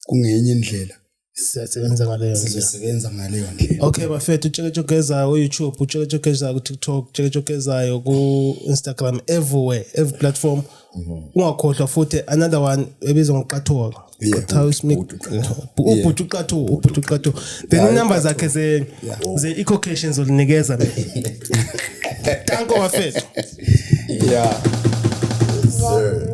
S3: kungenye indlela
S1: siyasebenza ngaleyo sizosebenza ngaleyo ndlela
S3: okay bafethu utsheketshe
S1: ogezayo ku-youtube utsheketshe ogezayo ku-tiktok utsheketshe ogezayo ku-instagram everywhere every platform mhm. ungakhohlwa futhi another one ebizwa ngoqathuka ubhuti uqathu ubhuti uqathu then inumber zakhe ze-ecocation zolinikeza tanko bafethu
S3: yeah
S1: sir